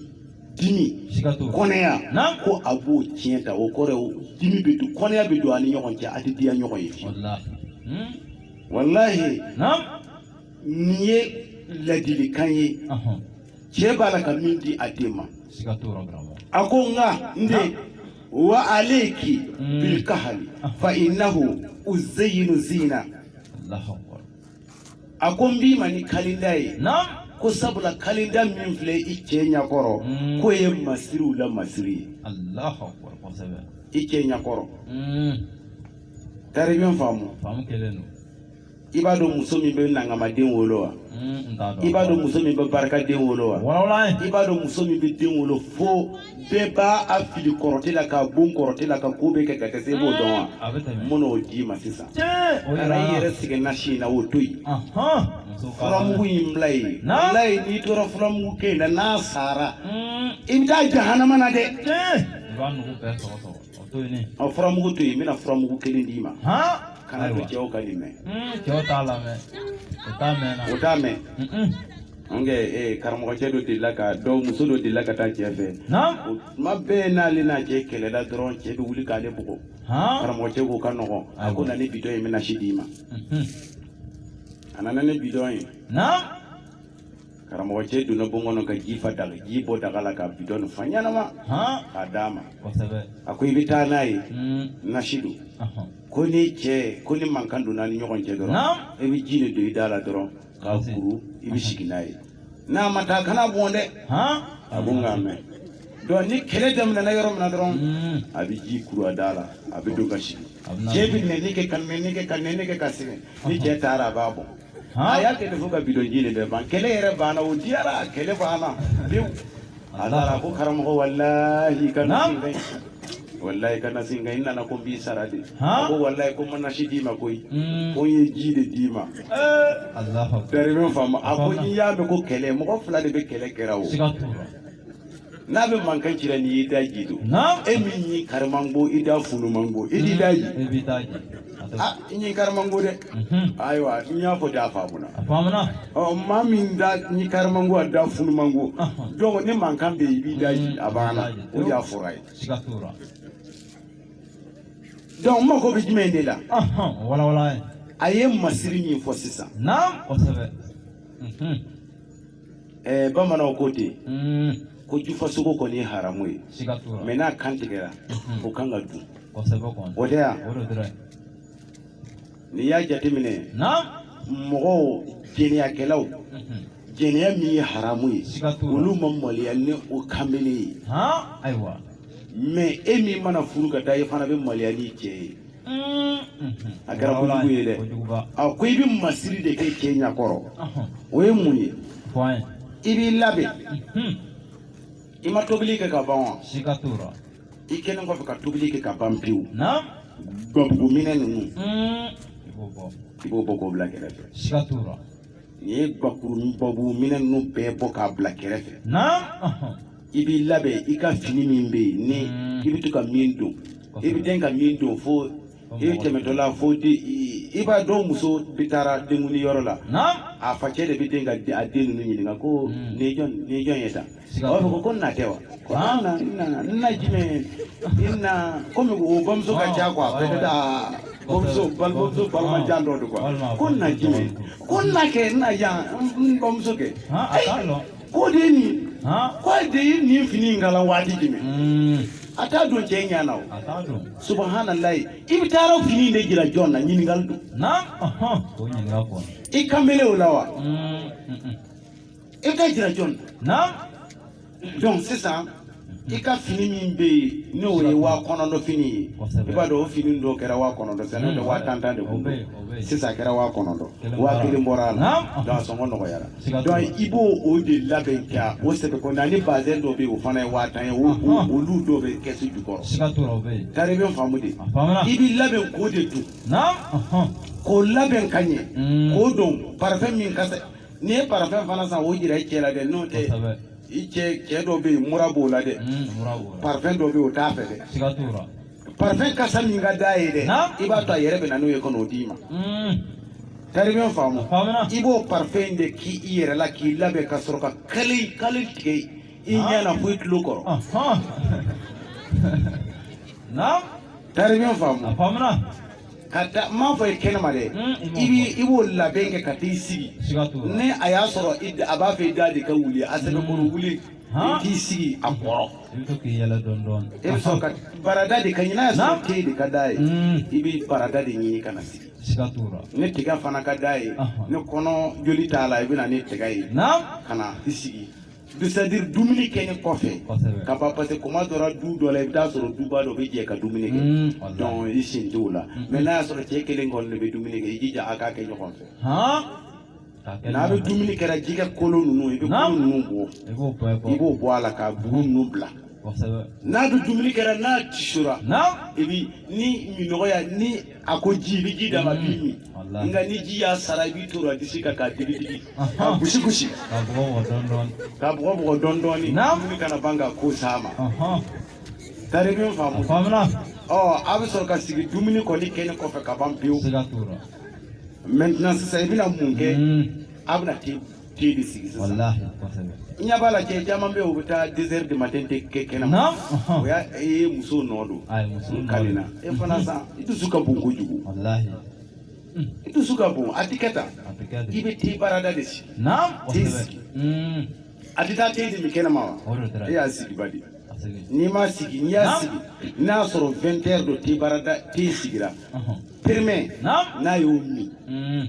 dimi siga t'o la. kɔniya Naamu. ko a b'o tiɲɛ ta o kɔrɔ ye o dimi bɛ don kɔniya bɛ don a ni ɲɔgɔn cɛ a tɛ diya ɲɔgɔn ye fiyewu walahi Hmm? walahi naamu nin ye ladilikan ye Ɔhɔn. cɛ b'a la ka min di a den ma siga t'o la karamɔgɔ a ko nka n den wa alayki Mm. bilkahli fa innahu uzayyinu zina Allahu akbar. a ko n b'i ma ni kalinda ye ko sabula kalinda min filɛ i cɛ ɲakɔrɔ mm. k'o ye masiriw la masiri ye i cɛ ɲakɔrɔ mm. taribiya faamu i b'a dɔn muso min bɛ nangamaden wolo wa mm, i b'a dɔn muso min bɛ barikaden wolo wa i b'a dɔn muso min bɛ den wolo fo bɛɛ b'a fili kɔrɔte la k'a bon kɔrɔte la ka ko bɛɛ kɛ ka dɛsɛ i b'o dɔn wa a bɛ tɛmɛ n bɛn'o d'i ma sisan tiɲɛ o kana i yɛrɛ sɛgɛn nasi in na o to yen ahɔn muso ka furamugu in bila yen Na? bila yen n'i tora furamugu kɛ in na n'a sara i bɛ taa jahanama na dɛ tiɲɛ i b'a nugu bɛɛ sɔgɔ sɔgɔ A furamugu to yen n bɛna furamugu kelen d'i ma kan'a to cɛw ka nin mɛn u t'a mɛn an kɛ karamɔgɔcɛ dɔ delila ka dɔ muso dɔ delila ka taa cɛ fɛ o tuma bɛɛ n'ale n'a cɛ kɛlɛla dɔrɔn cɛ bɛ wuli k'ale bugɔ karamɔgɔcɛ k'o ka nɔgɔn a ko na ni bidɔn ye n bɛ nasi d'i ma a nana ni bidɔn ye karamɔgɔ cɛ donna bon kɔnɔ ka ji fa daga ji bɔ daga la ka bidɔn fa ɲɛnama k'a d'a ma a ko i bɛ taa n'a ye hmm. nasi don ko ni cɛ ko ni mankan donna a ni ɲɔgɔn cɛ dɔrɔn i bɛ ji nin don i da la dɔrɔn k'a kuru i bɛ sigi n'a ye n'a ma taa kan'a bɔn dɛ a ko n k'a mɛn donc ni kɛlɛ daminɛna yɔrɔ min na dɔrɔn hmm. a bɛ ji kuru a da la a bɛ don ka sigi cɛ bɛ nɛni kɛ ka nɛni kɛ ka nɛni kɛ ka sɛgɛn ni cɛ taara a b'a bɔ a y'a kɛ fo ka bidɔnji nin bɛɛ ban kɛlɛ yɛrɛ banna o diyara kɛlɛ banna pewu a taara ko karamɔgɔ walahi i ka na walayi i ka nasi in ka ɲi n nana ko n b'i sara de ko walayi ko n ma nasi d'i ma koyi hmm. ko n ye ji de d'i ma bɛrɛ bɛ faamu a ko n'i y'a mɛn ko kɛlɛ mɔgɔ fila de bɛ kɛlɛ kɛra o n'a bɛ mankan ci la n'i y'i daje dɔrɔn Naam. e min ɲin kari man go i da funu man go i t'i daje E b'i daje. A tɛ- ah i ɲin kari man go dɛ Mhm. ayiwa n y'a fɔ de a faamuna A faamuna. ɔ maa min da ɲin kari man go a da funu man go Ahun. donc ni mankan bɛ yen i b'i daje a banna o de y'a fura ye Siga t'o la. donc n mago bɛ jumɛn de la Ahun, walawala ye. a ye masiri min fɔ sisan Naam, kosɛbɛ. Mhm. eh, bamananw ko ten mm. ko jufasogo kɔni ye haramu ye mɛ n'a kan tigɛra mm-hmm. o kan ka dun o tɛ yan n'i y'a jateminɛ mɔgɔw jɛnɛyakɛlaw mm-hmm. jɛnɛya min ye haramu ye olu ma maloya ni o kanbele ye mɛ e min mana furu ka taa i fana bɛ maloya n'i cɛ ye a kɛra kojugu ye dɛ a ko i bɛ masiri de kɛ cɛ ɲakɔrɔ o ye mun ye i b'i labɛn i ma tobili kɛ ka ban wa i kɛlen kɔfɛ ka tobili kɛ ka ban pewu gbabuguminɛn ninnu i b'o bɔ k'o bila kɛrɛfɛ n'i ye gbabuguminɛn ninnu bɛɛ bɔ k'a bila kɛrɛfɛ i b'i labɛn i ka fini min bɛ yen ni mm. i bɛ to ka min don i bɛ den ka min don fo i bɛ tɛmɛtɔ la fo di i b'a dɔn muso bɛ taara denkundi yɔrɔ la a facɛ de bɛ den ka a den ninnu ɲininka ko mm. nin jɔn nin jɔn ye tan a b'a fɔ ko n na tɛ wa ko an na n nana n na jumɛn i na komi o bamuso ka ca kuwa a bɛ taa bamuso bamuso balima jan dɔ de ko wa ko n na jumɛn ko n na kɛ n na yan n bamuso kɛ. k'o de ye nin k'o de ye nin fini in kalan waati jumɛn hmm. a t'a don cɛ ɲɛ na o subahanallahi i bɛ taara o fini in de jira jɔn na ɲininkali don i kanbelew la wa hmm, hmm, i k'a jira jɔn na donc sisan i ka fini min bɛ yen n'o ye waa kɔnɔntɔn fini ye i b'a dɔn o fini dɔ kɛra waa kɔnɔntɔn sisan n'o tɛ waa tan tan de kun don sisan a kɛra waa kɔnɔntɔn waa kelen bɔra a la donc a sɔngɔ nɔgɔyara donc i b'o o de labɛn ka o sɛbɛn kɔnɔ ani bazɛn dɔ bɛ yen o fana ye waa tan ye olu dɔw bɛ kɛsu jukɔrɔ tari i bɛ faamu de i b'i labɛn k'o de don k'o labɛn ka ɲɛ hmm. k'o don parafɛn min ka ɲi i ye parafɛn fana san o jira i cɛ la dɛ n'o tɛ i cɛ cɛ dɔ bɛ yen mura b'o la dɛ parfɛn dɔ bɛ yen o t'a fɛ dɛ parfɛn kasa min ka d'a ye dɛ i b'a to a yɛrɛ bɛ na n'o ye ka n'o d'i ma tari i bɛ n faamu i b'o parfɛn in de k'i i yɛrɛ la k'i labɛn ka sɔrɔ ka kale kale tigɛ i ɲɛ na fo i tulo kɔrɔ tari i bɛ n faamu ka taa n m'a fɔ i kɛnɛma dɛ i bi i b'o labɛn kɛ ka t'i sigi ni a y'a sɔrɔ a b'a fɛ i da de ka wuli a sɛbɛkɔrɔ wuli i t'i sigi a kɔrɔ i bɛ sɔrɔ ka barada de ka ɲi n'a y'a sɔrɔ te de ka d'a ye i bɛ barada de ɲini ka na sigi ni tiga fana ka d'a ye ni kɔnɔ joli t'a la i bɛ na ni tiga ye ka na i sigi c'est-à-dire dumuni kɛlen kɔfɛ ka ban parce que kuma dɔra du dɔ la i bɛ taa sɔrɔ duba dɔ bɛ jɛ ka dumuni kɛ mm, donc i sen t'o la mm. mais n'a y'a sɔrɔ cɛ kelen kɔni de bɛ dumuni kɛ i jija a k'a kɛ ɲɔgɔn fɛ n'a bɛ dumuni kɛra jɛgɛ kolo ninnu i bɛ kolo ninnu bɔ i b'o bɔ a la ka bugu ninnu bila n'a bɛ dumuni kɛra n'a tisora i bɛ ni minɔgɔya ni a ko ji i bɛ ji d'a ma a b'i min wallahi nka ni ji y'a sara i b'i toro a disi kan k'a digi digi k'a gosi gosi k'a bugɔ bugɔ dɔɔni dɔɔni k'a bugɔ bugɔ dɔɔni dɔɔni Naam. dumuni kana ban ka ko s'a ma ɔhɔn tari min a faamu faamuna ɔ a bɛ sɔrɔ ka sigi dumuni kɔni kɛlen kɔfɛ ka ban pewu siga t'o la maintenant sisan i bɛna mun kɛ Mm, a bɛna te te de sigi sisan walahi kosɛbɛ i ɲɛ b'a la cɛ caman bɛ yen u bɛ taa deux heures du matin de kɛ kɛnɛma naam ɔhɔn. o ye muso nɔ don a ye muso n kalenna e fana san i dusu ka bon kojugu walahi i dusu ka bon a tɛ kɛ tan a bɛ kɛ i de bɛ te barada de sigi naam te kosɛbɛ sigi. Mm, a tɛ taa te de min kɛnɛma wa o de taara e y'a sigi badi a segin n'i m'a sigi n'i y'a Naam. sigi n'a y'a sɔrɔ 20 heures don te barada te sigira ɔhɔn. premier naam n'a y'o min Mm,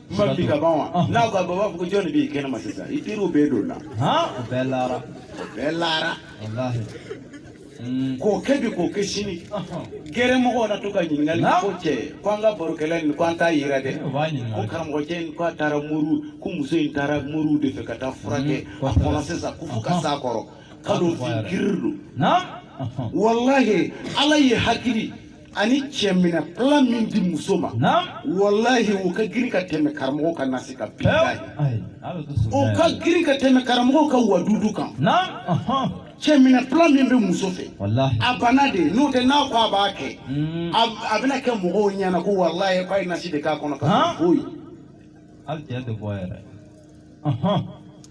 b'a di ka ban wa? Ah. N'a ko a b'a fɔ ko jɔn de b'i kɛnɛma sisan i teriw bɛɛ donna. Han o bɛɛ laara. O bɛɛ laara. Walahi. Hmm. K'o kɛ bi k'o kɛ sini. Gɛrɛmɔgɔw na to ka ɲininkali ko cɛ ko an ka barokɛla nin ko an t'a yera dɛ. Ko karamɔgɔ cɛ in ko a taara moriw ko muso in taara moriw de fɛ ka taa furakɛ hmm. a kɔnɔ sisan ko fo ka s'a kɔrɔ. K'a dɔn fin girin don. Walahi Ala ye hakili. ani cɛminɛ plan min di muso ma walahi o ka girin ka tɛmɛ karamɔgɔ ka nasi kan bi o ka girin ka tɛmɛ karamɔgɔ ka wadudu kan cɛminɛ plan min bɛ muso fɛ a bana de n'o tɛ n'a ko a b'a kɛ hmm. a bɛna kɛ mɔgɔw ɲɛna ko walahi k'a ye nasi de k'a kɔnɔ ka foyi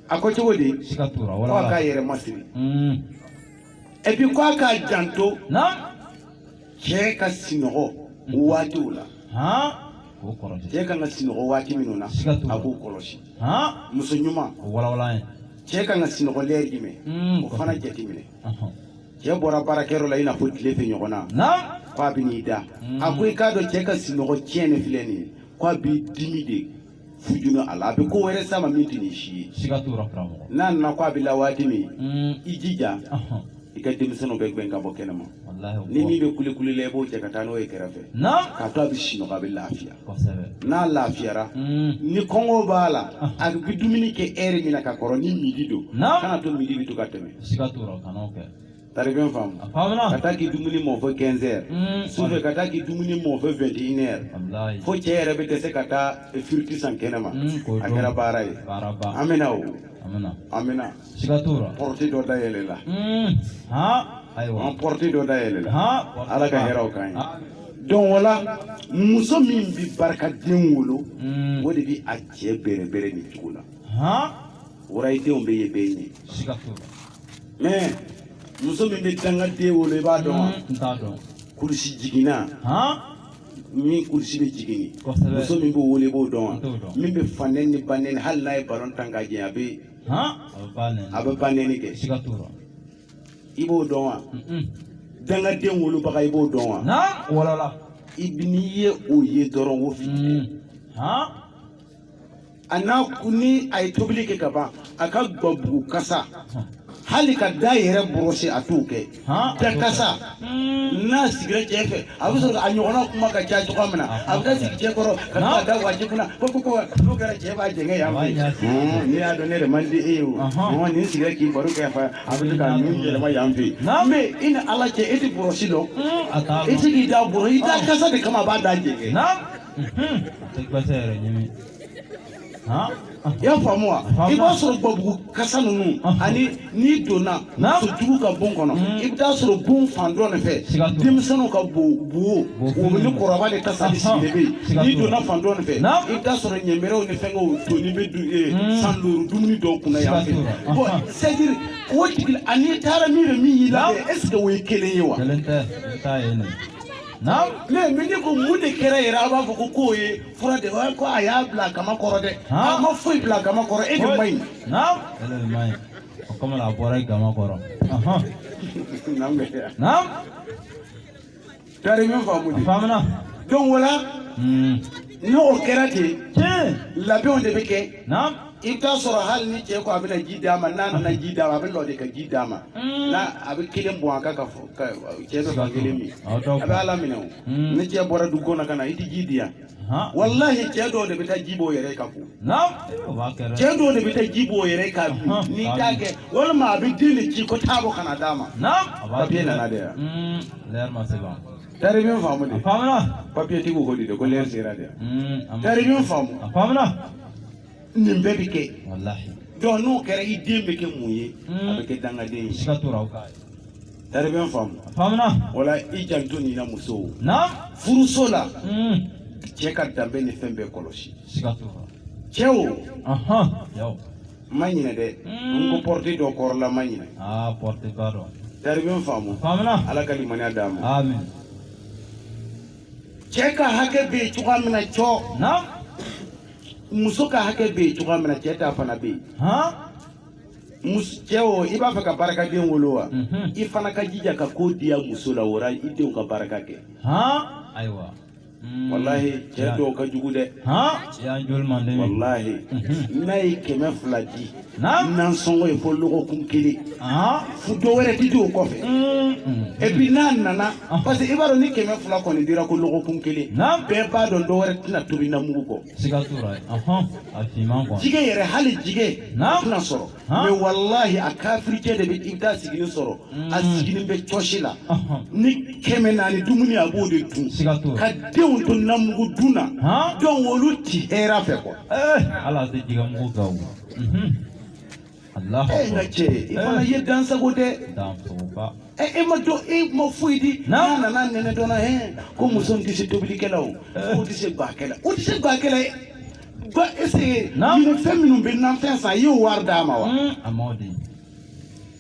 a ko cogo di k'a yɛrɛ masiri hmm. et puis ko a k'a janto cɛ ka sinɔgɔ waatiw la cɛ kan ka sinɔgɔ waati minnu na a k'o kɔlɔsi muso ɲuman cɛ kan ka sinɔgɔ lɛri jumɛn hmm. o fana jateminɛ cɛ bɔra baarakɛyɔrɔ la i n'a fɔ tile fɛ ɲɔgɔn na ko a bɛ n'i da hmm. a ko i k'a dɔn cɛ ka sinɔgɔ tiɲɛni filɛ nin ye ko a b'i dimi de fujunu a la a bɛ ko wɛrɛ s'a ma min tɛ nin si ye siga t'o la karamɔgɔ n'a nana ko a bɛ la waati min Mm, i jija ɔhɔn, i ka denmisɛnninw bɛɛ gɛn ka bɔ kɛnɛma walahi o ni ko- min bɛ kulekule la i b'o cɛ ka taa n'o ye kɛrɛfɛ na k'a to a bɛ sinɔgɔ a bɛ lafiya kosɛbɛ n'a lafiyara Mm, ni kɔngɔ b'a la a bɛ dumuni kɛ heure min na ka kɔrɔ ni midi don Naamu. kana to midi bɛ to ka tɛmɛ siga t'o la kan'o kɛ tari bɛ n faamu ka taa k'i dumuni mɔ fo 15 heures mm. sufɛ ka taa k'i dumuni mɔ fo 21 heures fo cɛ yɛrɛ bɛ dɛsɛ ka taa firiti san kɛnɛma mm, a kɛra baara ye amiina o amiina pɔrɔti dɔ dayɛlɛla mm. an pɔrɔti dɔ dayɛlɛla ala ka hɛrɛw k'an ɲɛ donc o la muso min bɛ barikaden wolo o de bɛ a cɛ bɛrɛbɛrɛ nin cogo la o la i denw bɛ ye bɛɛ ɲɛ mais muso min bɛ dangaden wolo i b'a dɔn wa n t'a dɔn kurusi jiginna min kurusi bɛ jigin muso min b'o wolo i b'o dɔn wa min bɛ fanɛni ni banɛni hali n'a ye balon tan ka jɛ a bɛ a bɛ banɛni kɛ i b'o dɔn wa dangaden wolobaga i b'o dɔn wa i n'i ye o ye dɔrɔn o fili a n'a kun ni a ye tobili kɛ ka ban a ka gabugu kasa hali k'a da yɛrɛ bɔrɔsi a t'o kɛ da kasa n'a sigira cɛ fɛ a bɛ sɔrɔ a ɲɔgɔnna kuma ka ca cogoya min na a bɛ taa sigi cɛ kɔrɔ ka to a da waji kunna ko ko ko n'o kɛra cɛ b'a jɛngɛ yan fɛ yen n'i y'a dɔn ne yɛrɛ man di e ye o mɔgɔ nin sigira k'i baro kɛ fo a bɛ se k'a nun yɛlɛma yan fɛ yen mais i ni ala cɛ e tɛ bɔrɔsi dɔn e tɛ k'i da bɔrɔ i da kasa de kama a b'a da jɛngɛ i y'a faamu wa i b'a sɔrɔ gbabugu kasa ninnu ani n'i donna musojugu ka bon kɔnɔ mm. i bɛ t'a sɔrɔ bon fan dɔ de fɛ denmisɛnninw ka bo bo o ni kɔrɔba de kasa de sigilen bɛ yen n'i donna fan dɔ de fɛ i bɛ t'a sɔrɔ ɲɛmɛrɛw ni fɛnkɛw tonnen bɛ du eh, mm. san duuru dumuni dɔw kunna yan fɛ bon c'est à dire o tigi ani taara min bɛ min y'i la est ce que o ye kelen ye wa. Naam. Mais min de ko mun de kɛra yɛrɛ a b'a fɔ ko k'o ye fura de ye ko a y'a bila a kaman kɔrɔ dɛ. A ma foyi bila a kaman kɔrɔ e de man ɲi. Naam. E de man ɲi. O kama la a bɔra i kaman kɔrɔ. Naam. Naam. Tari bɛ n faamu de. Faamuna. Donc o la. N'o kɛra ten. Tiɲɛ. Labɛnw de bɛ kɛ. Naam. i t'a sɔrɔ hali ni cɛ ko a bɛna ji d'a ma n'a nana ji d'a ma a bɛ lɔ de ka ji d'a ma mm. n'a a bɛ kelen bɔn a kan ka fɔ ka cɛ bɛ ka kelen min a bɛ ala minɛ o mm. ni cɛ bɔra du kɔnɔ ka na i tɛ ji di yan walahi cɛ dɔw de bɛ taa ji b'o yɛrɛ ka ko cɛ dɔw de bɛ taa ji b'o yɛrɛ ka bi n'i t'a kɛ walima a bɛ den de ci ko taa bɔ ka na d'a ma papiye nana de yan mm, tari bɛ n faamu de papiye tigiw ko de ko lɛri sera de yan tari bɛ n faamu nin bɛɛ bɛ kɛ donc n'o kɛra i den bɛ kɛ mun ye hmm. a bɛ kɛ dangaden ye tari bɛ n faamu wala i janto nin na musow furuso la hmm. cɛ ka danbe ni fɛn bɛɛ kɔlɔsi cɛw ma ɲinɛ dɛ hmm. n ko porte dɔ kɔrɔla ma ɲinɛ ah, tari bɛ n faamu ala ka limaniya d'a ma cɛ ka hakɛ bɛ yen cogoya min na cɔ muso ka hakɛ bɛ yen cogoya min na cɛ ta fana bɛ yen cɛ o i b'a fɛ ka barikaden wolo wa mhm. i fana ka jija ka ko diya muso la o ra i denw ka barika kɛ ayiwa mm. walahi cɛ dɔw ka jugu dɛ walahi mhm. n'a ye kɛmɛ fila di nansɔngɔ ye fo lɔgɔkun kelen fo dɔ wɛrɛ tɛ di o kɔfɛ et puis n'a nana parce que i b'a dɔn ni kɛmɛ fila kɔni dira ko lɔgɔkun kelen bɛɛ b'a dɔn dɔ wɛrɛ tɛna tobi namugu kɔ jigɛ yɛrɛ hali jigɛ tɛna sɔrɔ mais walahi a kafiricɛ de i bɛ taa sigilen sɔrɔ mm. a sigilen bɛ cɔsi la ni kɛmɛ naani dumuni a b'o de dun ka denw to namugu dun na donc olu ti hɛrɛ fɛ quoi n ka cɛ i fana ye dansago dɛ ɛ e ma dɔn e ma foyi di n'a nana nɛnɛ dɔ la hɛn ko muso in tɛ se tobili kɛ la o o tɛ se bakɛla o tɛ se bakɛla ye ba est ce que nin fɛn minnu bɛ nafɛn san i y'o wari d'a ma wa.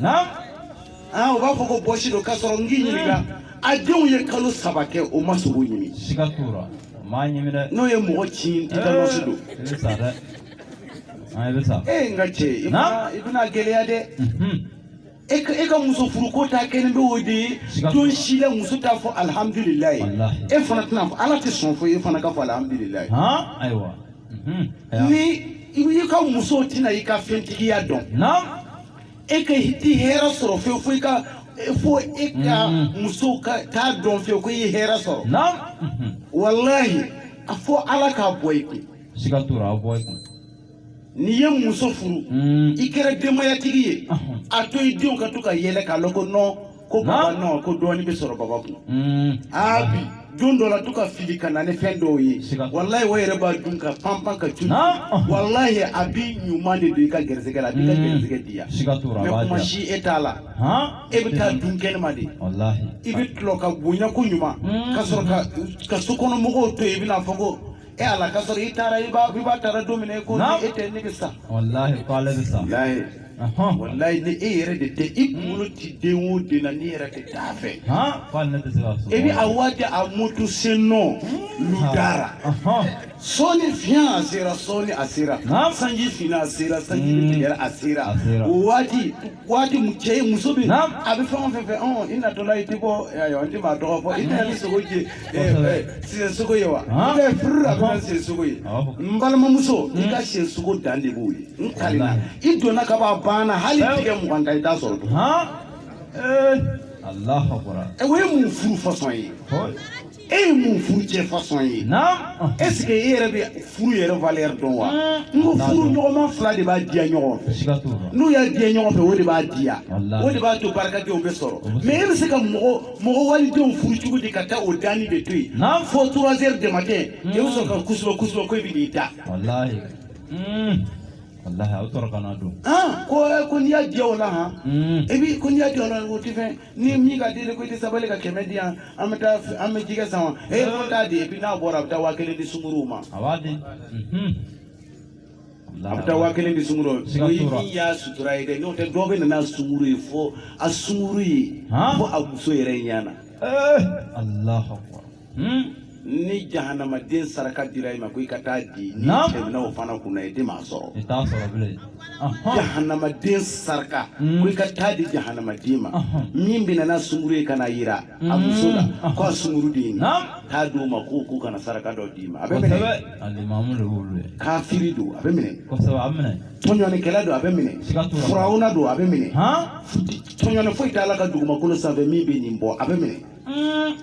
Naamu, aa u b'a fɔ ko bɔsi don k'a sɔrɔ n k'i ɲininka a denw ye kalo saba kɛ o ma sogo ɲimi siga t'o la m'a ɲimi dɛ n'o ye mɔgɔ cin tetanɔsi don i bɛ sa dɛ an i bɛ sa e n ka cɛ i bɛna Naamu. i bɛna gɛlɛya dɛ Mhm. e ka e ka muso furuko ta kɛnin bɛ o de ye Siga t'o la. don si la muso t'a fɔ alihamudulilayi Walahi. e fana tɛna fɔ ala tɛ sɔn fo e fana ka fɔ alihamudulilayi han ayiwa Mhm. Aya. ni i ka muso tɛna i ka fɛntigiya dɔn naamu e ka tɛ hɛrɛ sɔrɔ fewu fo i ka fo e ka muso ka t'a dɔn fewu ko i ye hɛrɛ sɔrɔ naam mhm. walahi a fɔ ala k'a bɔ i kun siga t'o la a bɔ i kun n'i ye muso furu mm. i kɛra denbayatigi ye a to i denw ka to ka yɛlɛ k'a lɔn ko nɔn ko baba nɔ ko dɔɔnin bɛ sɔrɔ baba kun mm. aa bi don dɔ la to ka fili ka na ni fɛn dɔw ye walayi o yɛrɛ b'a dun ka panpan ka cun walayi a bi ɲuman de don i ka gɛrɛsɛgɛ la a b'i ka mm. gɛrɛsɛgɛ di yan mɛ kuma si e t'a la e bɛ taa dun kɛnɛma de i bɛ tulɔ ka bonya ko ɲuman mm. ka sɔrɔ ka sokɔnɔmɔgɔw to yen i bɛna fɔ ko e ala ka sɔrɔ i taara i b'a i b'a taara don min na e ko Naam. ni e tɛ ne bɛ sa wallahi ko ale bɛ sa walayi Ahɔn. walayi ni e yɛrɛ de tɛ i kunkolo ti den o den na n'i yɛrɛ tɛ taa fɛ han ko ale ne tɛ se ka so e bɛ a waati a moto sennɔ lu da ra Ahɔn. sɔɔni fiɲɛ a sera sɔɔni a sera Naam. sanji finna a sera sanji Mm. tigɛra a sera A sera. o waati waati mu cɛ ye muso min a bɛ fɛn o fɛn fɛ ɔn i natɔla i tɛ bɔ ayiwa n tɛ maa tɔgɔ fɔ i tɛ na ni sogo je siɲɛ sogo ye wa i bɛ furu la fɛn siɲɛ sogo ye n balimamuso i ka siɲɛ sogo dan de b'o ye n kalila i donna ka ban a banna hali tigɛ mugan ta i t'a sɔrɔ tuguni. o ye mun furu fasɔn ye. e ye mun furu cɛ fasɔn ye eseke e yɛrɛ bɛ furu yɛrɛ valeur dɔn wa n ko furuɲɔgɔnma fila de b'a diya ɲɔgɔn fɛ n'u y'a diya ɲɔgɔn fɛ o de b'a diya o de b'a to barikadenw bɛ sɔrɔ mɛ e bɛ se ka mɔgɔ mɔgɔ walidenw furu cogo di ka taa o danni de to yen fo trois heures du matin e bɛ sɔrɔ ka kusuba kusuba ko e bɛ n'i da ko ko n'i y'a diya o la han e bi ko n'i y'a diya o la o tɛ fɛn ni min k'a deli ko i tɛ sabali ka kɛmɛ di yan an bɛ taa an bɛ jɛgɛ san wa e ko t'a di epi n'a bɔra a bɛ taa waa kelen di sunkuruw ma a b'a di mhm. a bɛ taa waa kelen di sunkuruw Siga o ye t'o la. min y'a sutura ye dɛ n'o tɛ dɔw bɛ na n'a sunkuru ye fo a sunkuru ye Han? fo a muso yɛrɛ ɲɛ na Eh, Allahu akbar. Hmm? ni jahanamaden saraka dira i ma ko i ka taa di n'i tɛmɛna o fana kunna i tɛ maa sɔrɔ jahanamaden saraka hmm. ko i ka taa di jahanamaden ma min bɛ na n'a sunguru ye ka n'a yira a hmm. muso la ko a sunguru de ye nin taa di o ma k'o k'o kana saraka dɔ d'i ma a bɛ minɛ kafiri don a bɛ minɛ tɔɲɔnikɛla don a bɛ minɛ furawuna don a bɛ minɛ tɔɲɔni foyi t'a la ka dugumakolo sanfɛ min bɛ nin bɔ a bɛ minɛ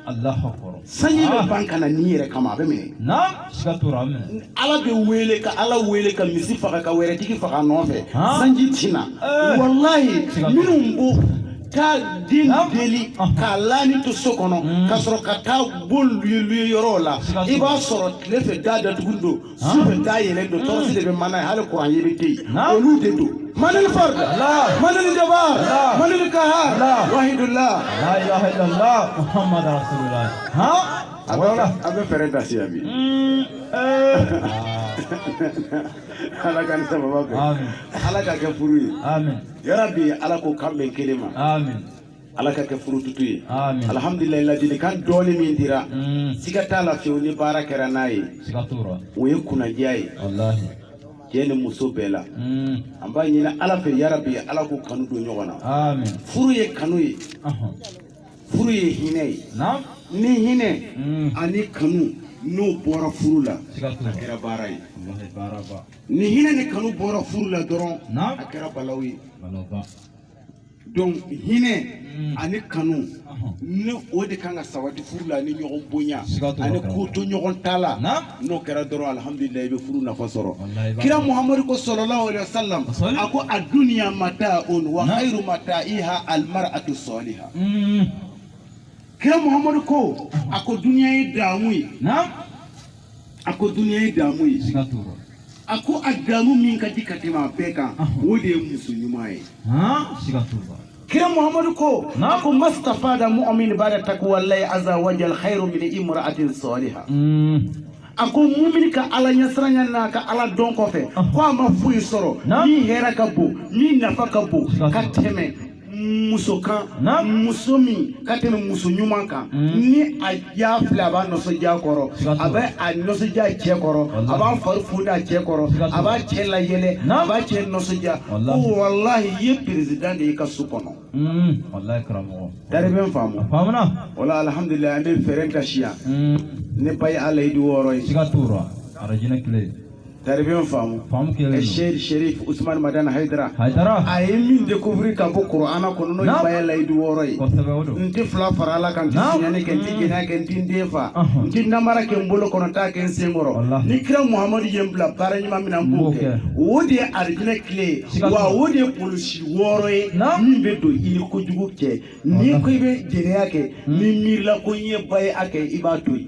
Alahu akbar sanji bɛ ban ka na nin yɛrɛ kama a bɛ minɛ na siga t'o la a bɛ minɛ ni Ala bɛ wele ka Ala wele ka misi faga ka wɛrɛtigi faga a nɔfɛ Han. sanji tɛ na Eh. walayi Siga t'o la. minnu bɛ taa den Naam. deli Ahun. k'a laani to so kɔnɔ ka sɔrɔ ka taa bon luye luye yɔrɔw la Siga t'o la. i b'a sɔrɔ tile fɛ da datugu don sufɛ da yɛlɛ don tɔrɔsi de bɛ mana yen hali kuran yɛrɛ tɛ yen olu de don manili farida manili jaba manili kaha wahidula la ilaha ilala muhamadu rasululahi a bɛ fɛɛrɛ dasi yan bi ala k'a ni sababa bɛn ala k'a kɛ furu ye yarabi ala k'u kan bɛn kelen ma ala ka kɛ furu tutu ye alihamdulila ladilikan dɔɔni min dira mm. siga t'a la fiyewu ni baara kɛra n'a ye o ye kunnadiya ye cɛ ni muso bɛɛ la mm. an b'a ɲini ala fɛ yarabi ala k'u kanu don ɲɔgɔn na furu ye kanu ye furu ye hinɛ ye ni hinɛ mm. ani kanu n'o bɔra furu la a kɛra baara ye ni hinɛ ni kanu bɔra furu la dɔrɔn a kɛra balawu ye donc hinɛ ani kanu ni o de kan ka sabati furu la ni ɲɔgɔn bonya ani kotoɲɔgɔntala n'o kɛra dɔrɔn alhamdulilayi i bɛ furu nafa sɔrɔ kira muhamadu ko sallallahu alaihi wasallam a ko addunya mata'un wa khairu mata'iha almar'atu salihah kira muhamadu ko a ko duniya ye damu ye a ko duniya ye damu ye siga t'o rɔ a ko a damu min ka di ka tɛmɛ a bɛɛ kan o de ye muso ɲuman ye siga t'o rɔ kira muhammadu ko a ko mastafada mu'min ba'da takwallahi azza wa jal khairu min imra'atin salihah hmm. a ko mumini ka ala ɲɛsiranya n'a ka ala dɔn kɔfɛ ko a ma foyi sɔrɔ min hɛrɛ ka bon min nafa ka bon ka tɛmɛ muso kan muso min ka tɛmɛ muso ɲuman kan mm. ni a y'a filɛ a b'a nisɔndiya kɔrɔ a bɛ a nisɔndiya cɛ kɔrɔ a b'a fari foni a cɛ kɔrɔ a b'a cɛ layɛlɛ a b'a cɛ nisɔndiya ko walahi i ye perezidan de ye i ka so kɔnɔ. Mm. dari bɛ n faamu o la alihamudulila an bɛ fɛɛrɛ ka siya mm. ni baya layidu wɔɔrɔ ye. siga t'o rɔ arajinɛ kile. Taribiɲɔgɔn faamu faamu kelen seki serifu usumani madani hayidara hayidara a ye min dekuwiri ka bɔ kuranɛ kɔnɔ n'o ye baya layidu wɔɔrɔ ye n tɛ fila fara ala kan n tɛ sonyɛni kɛ n tɛ jɛnɛya kɛ n tɛ n den fa n tɛ namara kɛ n bolo kɔnɔ t'a kɛ n sen kɔrɔ ni kira muhamadu ye n bila baara ɲuman min na n b'o kɛ o de ye arijinɛ kile ye wa o de ye polisi wɔɔrɔ ye min bɛ don i ni kojugu cɛ n'i ko i bɛ jɛnɛya kɛ n'i miirila ko n ye baya kɛ i b'a to yen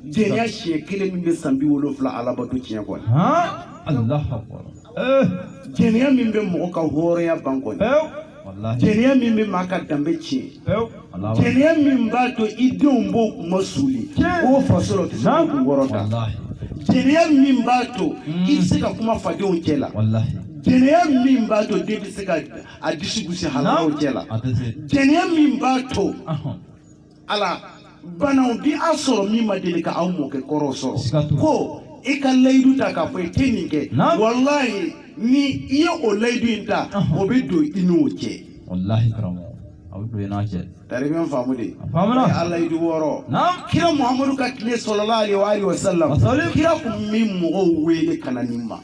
jɛnɛya siɲɛ kelen min bɛ san bi wolonwula alabato tiɲɛ kɔni jɛnɛya min bɛ mɔgɔ ka hɔrɔnya ban kɔni jɛnɛya min bɛ maa ka danbe tiɲɛ jɛnɛya min b'a to i denw b'o kun ma suuli o faso la o tɛ se ka kun kɔrɔta jɛnɛya min b'a to hmm. i tɛ se ka kuma fadenw cɛ la jɛnɛya min b'a to den tɛ se ka a disi gosi halalaw cɛ la jɛnɛya min b'a to ala banaw bi a sɔrɔ min ma deli ka aw mɔkɛ kɔrɔ sɔrɔ ko i ka layidu ta k'a fɔ i tɛ nin kɛ walayi ni i ye o layidu in ta o bɛ don i n'o cɛ walahi karamɔgɔ a bɛ don i n'a cɛ taribiɲɛ faamu de faamuna a layidu wɔɔrɔ kira muhamadu ka tile sallallahu alaihi wa alihi wasallam kira tun bɛ mɔgɔw wele ka na nin ma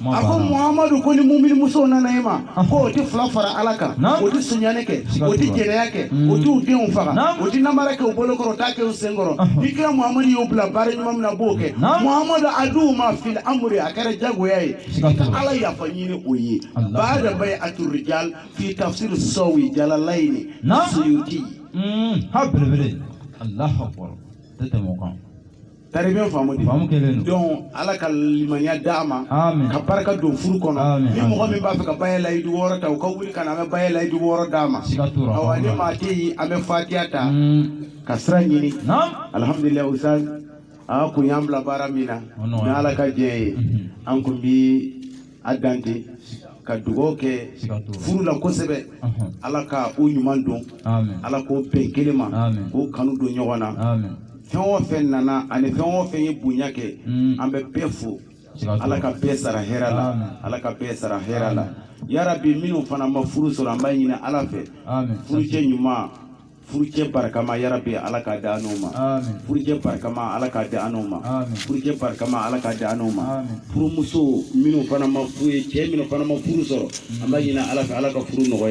a ko muhamadu ko ni mumini musow nana e ma ko o tɛ fila fara ala kan o tɛ sunyani kɛ o tɛ jɛnɛya kɛ o t'u denw faga o tɛ namara kɛ u bolo kɔrɔ o t'a kɛ u sen kɔrɔ ni kira muhamadu y'o bila baara ɲuman min na a b'o kɛ muhamadu a d'u ma fiili amuru a kɛra jagoya ye i ka ala yafa ɲini o ye baada bayeatu rijal fi tafsir sawi jalalayini suyuti ha belebele alahu akbar tɛ tɛmɛ o kan Taribiyan faamu de donc ala ka limaya d'a ma ka barika don furu kɔnɔ ni mɔgɔ min b'a fɛ ka baya layidu wɔɔrɔ ta u ka wuli ka na an bɛ baya layidu wɔɔrɔ d'a ma awa ni maa tɛ yen an bɛ fatiya ta ka sira ɲini alihamdulila usitaz a kun y'an bila baara min na ni ala ka diɲɛ ye an kun bi a dante ka dugaw kɛ furu la kosɛbɛ ala ka o ɲuman don ala k'o bɛn kelen ma k'o kanu don ɲɔgɔn na fɛn o fɛn nana ani fɛn o fɛn ye bonya kɛ an bɛ bɛɛ fo ala ka bɛɛ sara hɛrɛ la ala ka bɛɛ sara hɛrɛ la yarabi minnu fana ma furu sɔrɔ an b'a ɲini ala fɛ furucɛ ɲuman furucɛ barikama yarabi ala k'a di an n'o ma furucɛ barikama ala k'a di an n'o ma furucɛ barikama ala k'a di an n'o ma furumuso minnu fana ma furu ye cɛ minnu fana ma furu sɔrɔ an b'a ɲini ala fɛ ala ka furu nɔgɔya